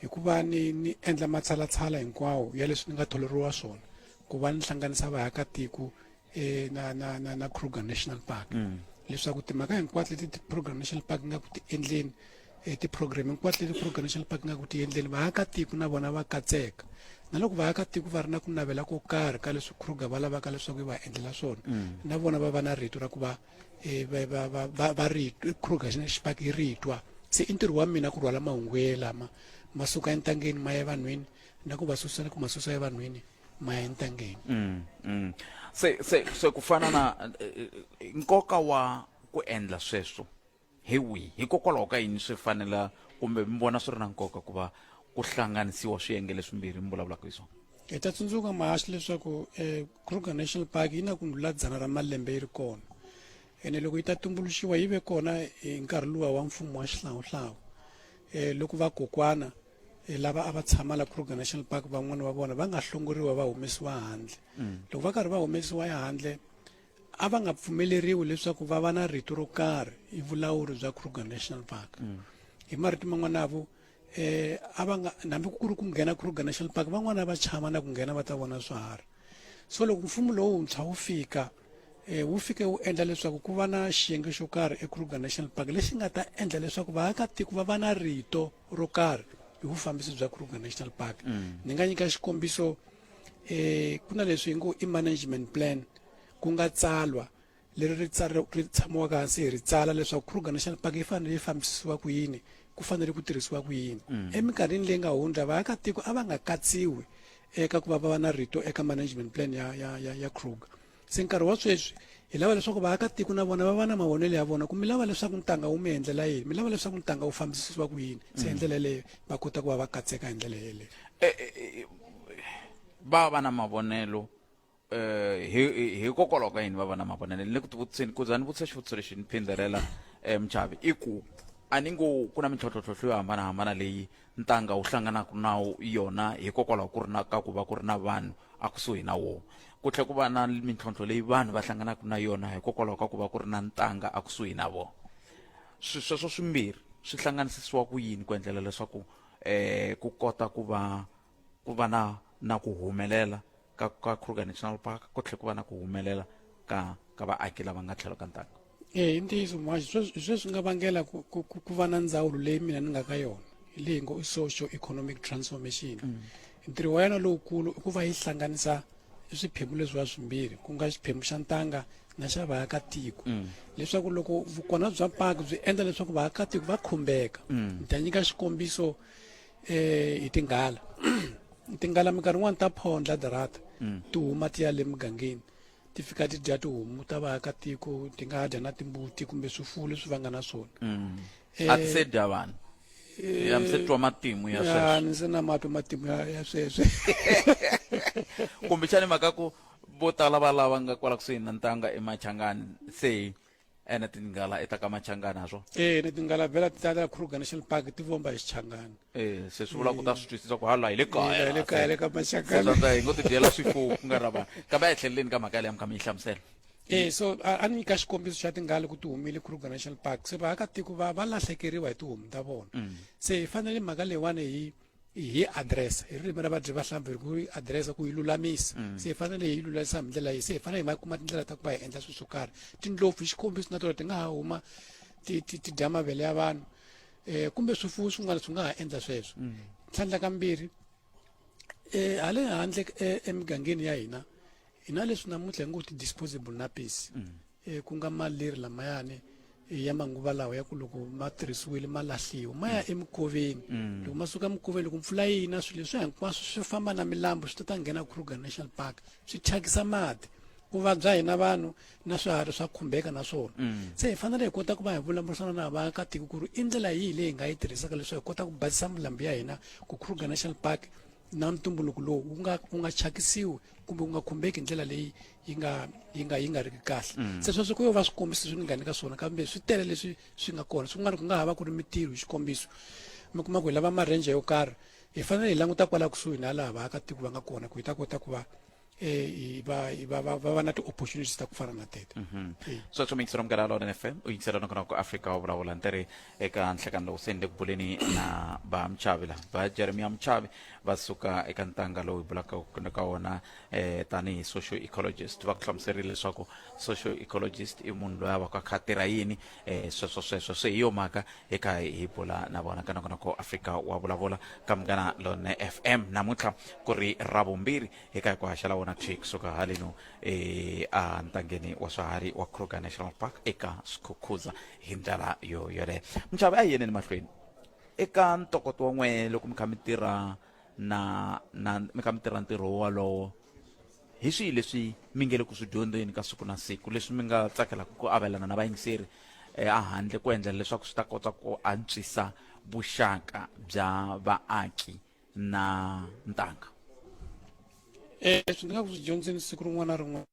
hi ku va ni ni endla matshalatshala hinkwawo ya leswi ni nga tholeriwa swona ku va ni hlanganisa vaakatiko eh, na na na na Kruger National Park mm. leswaku timhaka hinkwato leti ti-Kruger National Park nga ku ti endleni eh, ti-program hinkwato leti Kruger National Park nga ku ti endleni vaakatiko na vona va katseka na loko vaakatiko va ri na ku navela ko karhi ka leswi Kruger va lavaka leswaku yi va endlela swona mm. na vona va va na rito ra ku va eh, va va va va va ri kruger xipaki yi ri twa se i ntirho wa mina ku rhwala mahungu ye lama ma suka entangeni ma ya evanhwini na ku va susa na ku ma susa evanhwini ma ya entangeni Mm, mm. se se se ku fana na eh, eh, nkoka wa ku endla sweswo Hi wihi? Hikokwalaho ka yini swi fanela kumbe mi vona swi ri na nkoka ku va ku hlanganisiwa swiyenge leswimbirhi mi vulavulaka hi swona? Hi ta tsundzuka mahaxi leswaku um eh, Kruger National Park yi na ku ndlula dzana ra malembe yi ri kona ene loko yi ta tumbuluxiwa yi ve kona hi nkarhi luwa wa mfumo wa xihlawuhlawu um loko vakokwana eh, lava a va tshama la Kruger National Park van'wana va vona va nga hlongoriwa va humesiwa handle mm. loko va karhi va humesiwa ehandle a va nga pfumeleriwi leswaku va va na rito ro karhi hi vulawuri bya kruger national park mm. hi marito man'wana avo eh a va nga hambi ku ri ku nghena kruger national park van'wana va chava na ku nghena va ta vona swiharhi so loko mfumo lowuntshwa wu fika um wu fike wu endla leswaku ku va na xiyenge xo karhi ekruger national park lexi nga ta endla leswaku vaakatiko va va na rito ro karhi hi vufambisi bya kruger national park mm. ni nga nyika xikombiso eh ku na leswi hi ngo i management plan ku nga tsalwa leri ri ri tshamiwaka hansi hi ri tsala leswaku kruger national park yi fanele yi fambisisiwa ku yini ku fanele ku tirhisiwa ku yini mm. eminkarhini leyi nga hundza vaakatiko a va nga katsiwi eka ku va va va na rito eka management plan ya ya ya ya kruger Se nkarhi wa sweswi hi lava leswaku vaakatiko na vona va va na mavonelo ya vona ku mi lava leswaku ntanga wu mi endlela yini mi lava leswaku ntanga wu fambisisiwa ku yini se hi mm. ndlela yeleyo va kota ku va va katseka hi ndlela yeleyo eh, eh, eh, va va na mavonelo um hikokwalaho ka yini va va na mavonelo ni le ku tivutiseni ku za ni vutisa xivutiso lexi ni phindelela um muchavi i ku a ni ngo ku na mintlhotlhotlhotlho yo hambanahambana leyi ntanga wu hlanganaka na yona hikokwalaho ku ri na ka ku va ku ri na vanhu akusuhi na wona ku tlhela ku va na mintlhontlho leyi vanhu va hlanganaka na yona hikokwalaho ka ku va ku ri na ntanga akusuhi na vona swi sweswo swimbirhi swi hlanganisisiwa ku yini ku endlela leswaku um ku kota ku va ku va na na ku humelela ka ka kruger national park ku tlhela ku va na ku humelela ka ka vaaki lava nga tlhelo ka ntanga e hi ntiyiso mwaxi sweswi swe swi nga vangela ku, ku, ku va na ndzawulo leyi mina ni nga ka yona leyi ngo i social economic transformation mm. ntirho wa yona lowukulu i ku va yi hlanganisa swiphemu leswiwa swimbirhi ku nga xiphemu xa ntanga na xa vaakatiko mm. leswaku loko vukona bya paki byi endla leswaku vaakatiko va khumbeka mm. ni ta nyika xikombiso um hi tinghala tinghala minkarhi yin'wani ta phondla darata ti huma ti ya le mugangeni ti fika ti dya tihomu ta vaakatiko ti nga dya na timbuti kumbe swifuwo leswi va nga na swona mm. eh, a ti se dya vanhu eh, ya mi se twa matimu ya sweswo ni se na matwa matimu ya sweswo kumbexani mhaka ku vo tala va lava nga kwala kusuhi na ntanga emachangani se ene tinghala i ta ka machangani ha swona eh ni tinghala vhela ti tala kruger national park ti vomba hi xichangani eh se swi vula ku ta swi twisisa ku hala hi le kaya hi le kaya le ka machangani swa hi ngo ti dyela swifuwo ku nga ra vanhu kambe a hi tlheleleni ka mhaka leyi mi kha mi yi hlamusela eh so a ni nyika xikombiso xa tinghala ku ti humile kruger national park se vaakatiko va va lahlekeriwa hi tihomu ta vona mm. se hi fanele mhaka leyiwani hi hi address hi ririmi ra vadyi va hlampfi hi ku yi address ku yi lulamisa mm. se hi fanele hi yi lulamisa hi ndlela yi se hi fanele hi ma kuma tindlela ta ku va hi endla swilo swo karhi tindlopfu hi xikombiso na tona ti nga ha huma ti ti ti dya mavele ya vanhu um kumbe swifuwo swin'wana swi nga ha endla sweswo mm. tlhandla kambirhi um ha le handle e, emigangeni ya hina hi na leswi namuntlha hi ngo ti-disposable nappies mm. e, ku nga maleri lamayani e, ya manguva lawa ya ku loko ma tirhisiwile ma lahliwa ma ya mm. emukoveni mm. loko ma suka emukoveni loko mpfula yi na swilo leswi hinkwaswo swi famba na milambu swi ta ta nghena kruger national park swi thyakisa mati ku vabya hina vanhu na swiharhi swa khumbeka na swona mm. se hi fanele hi kota ku va hi vulavurisana na vaakatiko ku ri i ndlela yihi leyi hi nga yi tirhisaka leswaku hi kota ku basisa milambu ya hina ku kruger national park na ntumbuluko lowu wu nga wu nga thyakisiwi kumbe wu nga khumbeki hi ndlela leyi yi nga yi nga yi nga ri kahle mm. se sweswo ku yo va swikombiso leswi ni nga nyika swona kambe swi tele leswi swi nga kona swin'wana ku nga ha va ku ri mitirho hi xikombiso mi kuma ku hi lava marenje yo karhi hi fanele hi languta kwala kusuhi na laha vaakatiko va nga kona ku hi ta kota ku va um va va va va va na ti-opportunities ta ku fana na tete mhm. sweswo mi yingisela munghana lona fm u yingisela nakona ku afrika wa vulavula ntirhi eka nhlekani lowu se ni le ku buleni na va muchavi la va jeremiya muchavi va suka eka ntanga lowu hi bulaka ka wona eh tanihi social ecologist va ku hlamuserile leswaku social ecologist i munhu loyi a va ku a kha tirha yini eh sweswo sweswo se hi yo mhaka eka hi bula na vona ka nakona ko afrika wa vulavula ka munghana lone f m namuntlha ku ri ra vumbirhi eka hi ku haxela wona thwi kusuka haleno eh a ntangeni wa swiharhi wa kruger national park eka swikhukhuza hi ndlela yo yoleyo minxavo a hi yeneni mahlweni eka ntokoto wa n'we loko mi kha mi tirha na na mi ka mi tirha ntirho wolowo hi swihi leswi mi nge le ku swi dyondzeni ka siku na siku leswi mi nga tsakelaka ku avelana na vayingiseri eh, a handle ku endlela leswaku swi ta kota ku antswisa vuxaka bya vaaki na ntanga um swi nga ku swi dyondzeni siku rin'wana na rin'wana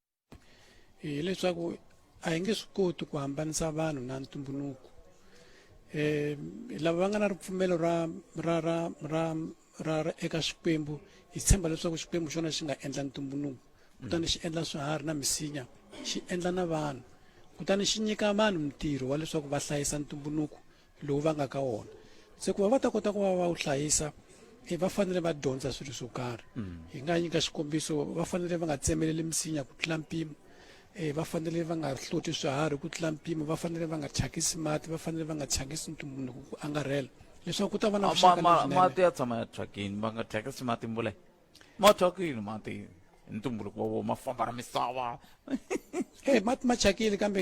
hileswaku a hi nge swi koti ku hambanisa vanhu na ntumbuluko um lava va nga na ripfumelo ra ra ra ra ra ra eka xikwembu hi tshemba leswaku xikwembu xona xi nga endla ntumbuluko kutani xi endla swiharhi na misinya xi endla na vanhu kutani xi nyika vanhu mintirho wa leswaku va hlayisa ntumbuluko lowu va nga ka wona se ku va va ta kota ku va va wu hlayisa e va fanele va dyondza swilo swo karhi mm. hi nga nyika xikombiso va fanele va nga tsemeleli misinya ku tlula mpimo um va fanele va nga hloti swiharhi ku tlula mpimo va fanele va nga thyakisi mati va fanele va nga thyakisi ntumbuluko ku angarhela leswaku ku ta va na vuxaka mati ya tshama ya thyakini va nga thyakisi mati mbule mathyakile mati ntumbuluko wa wona ma famba ra misava e mati ma thyakile kambe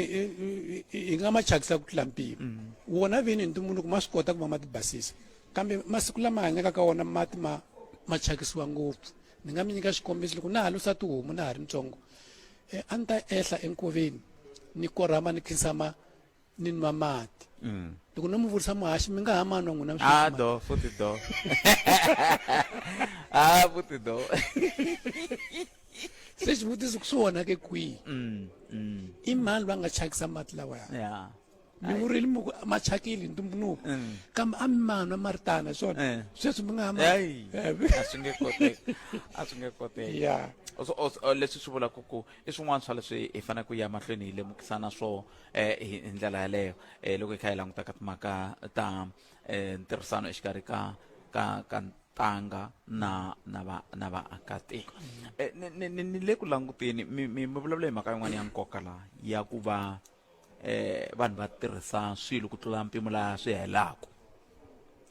hi nga ma thyakisa ku tlula mpimo mm. wona vini ntumbuluko ma swi kota ku va ma ti basisa kambe masiku lama hanyaka ka wona mati ma ma thyakisiwa ngopfu ni nga mi nyika xikombiso loko na ha lusa tihomu na ha ri ntsongo um a ni ta ehla enkoveni ni korhama ni khinsama ni nwa mati mm. loko no mi vurisa muhaxi mi nga ha manwa n'wina a do futhi do a futhi do se xivutiso ku swi wona ke kwihi mm, mm. i mani va nga chakisa mati lawa ya mi vurile mi ku ma chakile hi ntumbuluko mm. kambe a mi manwa ma ri tana swona eh. sweswi mi nga ha a swi nge koteki a swi nge koteki ya leswi swi vulaka ku i swin'wana swa leswi hi faneleke ku ya mahlweni hi lemukisana swona eh, hi hi ndlela yaleyo eh, loko hi kha hi languta ka timhaka ta eh, ntirhisano exikarhi ka ka ka ntanga na na va na vaakatiko eh, ni- ni ni- ni le ku languteni mi mi mi vulavula hi mhaka yin'wana ya nkoka laha ya ku va eh vanhu va tirhisa swilo ku tlula mpimo laha swi helaku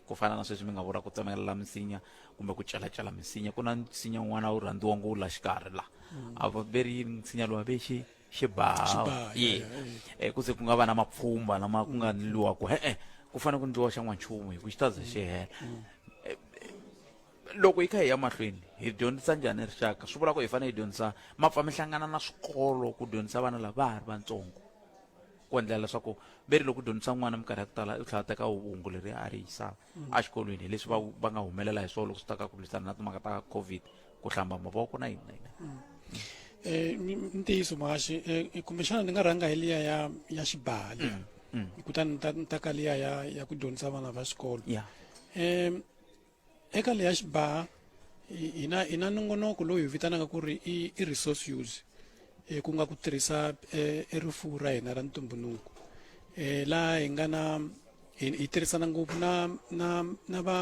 ku fana na sweswi mi nga vula ku tsemelela misinya kumbe ku celacela misinya ku na nsinya un'wana wu rhandziwa ngo wu la xikarhi la a va veri misinya lowa vexi xibaha Xibaha, ye yeah, yeah, yeah. Eh, ku ze ku nga va na mapfhumba lama ku nga ndliwa ku e-e ku fanele ku ndliwa xa n'wanchumu hi ku xi ta ze xi hela Eh, eh, loko hi kha hi ya mahlweni hi dyondzisa njhani rixaka swi vula ku hi fanele hi dyondzisa ma pfa mi hlangana na swikolo ku dyondzisa vana lava ha ri vantsongo ku endlela leswaku ve ri loko u dyondzisa n'wana minkarhi ya ku tala u tlhela a teka hungu leri a ri yisaka exikolweni hi leswi va va nga humelela hi swona loko swi ta ka ku lwisana na timhaka ta covid ku hlamba mavoko na yini na yini um ntiyiso mahaxi um kumbexana ni nga rhanga hi liya ya ya xibaha liya mm, mm. kutani ni ta ni ta ka liya ya ya ku dyondzisa vana va xikolo um eka leya xibaha hi na hi na nongonoko lowu hi vitanaka ku ri i i resource use um ku nga ku tirhisa um e rifuwo ra hina ra ntumbuluko um laha hi nga na hi hi tirhisana ngopfu na na na va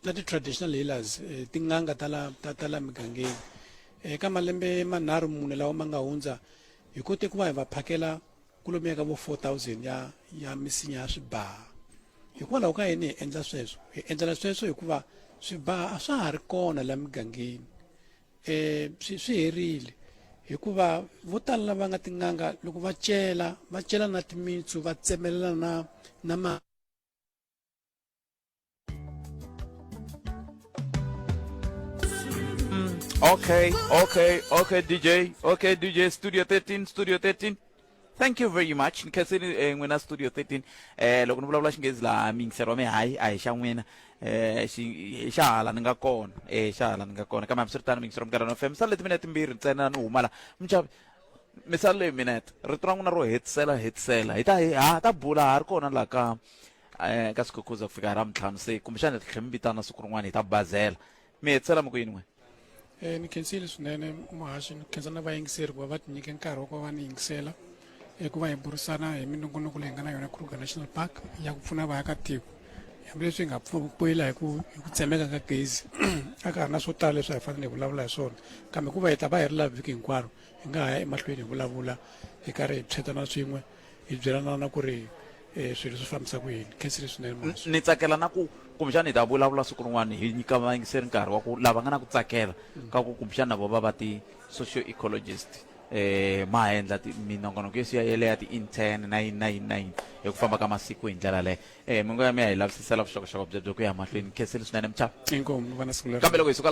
na ti-traditional healers eh, tin'anga ta la ta ta la migangeni eh, eka malembe manharhu mune lawa ma nga hundza hi kote ku va hi va phakela kulomuya ka vo 4000 ya ya misinya ya swibaha hikwalaho ka yini hi endla sweswo hi endlela sweswo hikuva swibaha a swa ha ri kona la migangeni eh swi swi herile hikuva vo tala lava nga tin'anga loko va cela va cela na timitsu va tsemelela na na ma Okay, okay, okay, DJ. Okay, DJ, Studio 13, Studio 13. thank you very much ni khenseni eh, n'wina studio 13 eh, loko ni vulavula xinghezi laha miyingiselo wa mi hayi a hi xa n'wina eh, xi- hi xa hala ni nga kona eh, xa hala ni nga kona kambe hambiswiritano miyingiselo minkarhi no fm misala leti minete mbirhi ntsena ni humala muchavi misala leyi minete rito ra n'wina ro hetisela hetisela hi ta hi ha ta bula ha ri kona laha ka eh, ka sikhukhuza ku fika hi ra mintlhanu se kumbexana hi tlhe mi vitana siku rin'wana hi ta bazela mi hi tsala mi ku yin'we Eh, ni khensile swinene muhaxi ni khensa na vayingiseri ku va va tinyike nkarhi wa ku va va ni yingisela eh, ku va hi burisana hi minongonoko leyi nga na yona kruger national park ya ku pfuna vaakatiko hambileswi hi nga pfu- pfuyela hi ku hi ku tsemeka ka gezi a ka ha ri na swo tala leswi a hi fanele hi vulavula hi swona kambe ku va hi ta va hi ri laha vhiki hinkwaro hi nga ha ya emahlweni hi vulavula hi karhi hi phyetana swin'we hi byelana na ku ri um swilo swi fambisa ku yini khensile swinene ni tsakela na ku kumbexana hi ta vulavula siku rin'wana hi nyika vayingiseri nkarhi wa ku lava nga na ku tsakela mm. ka ku kumbexana na vo va va ti-socio ecologist eh ma endla minongonoko yo siya yeleya ti-intern na yini na yini na yini hi ku famba ka masiku hi ndlela leyo um eh, mingo ya mi ya hi lavisisela vuxokoxoko byebyo ku ya mahlweni khensile swinene mchava kambe loko hi suka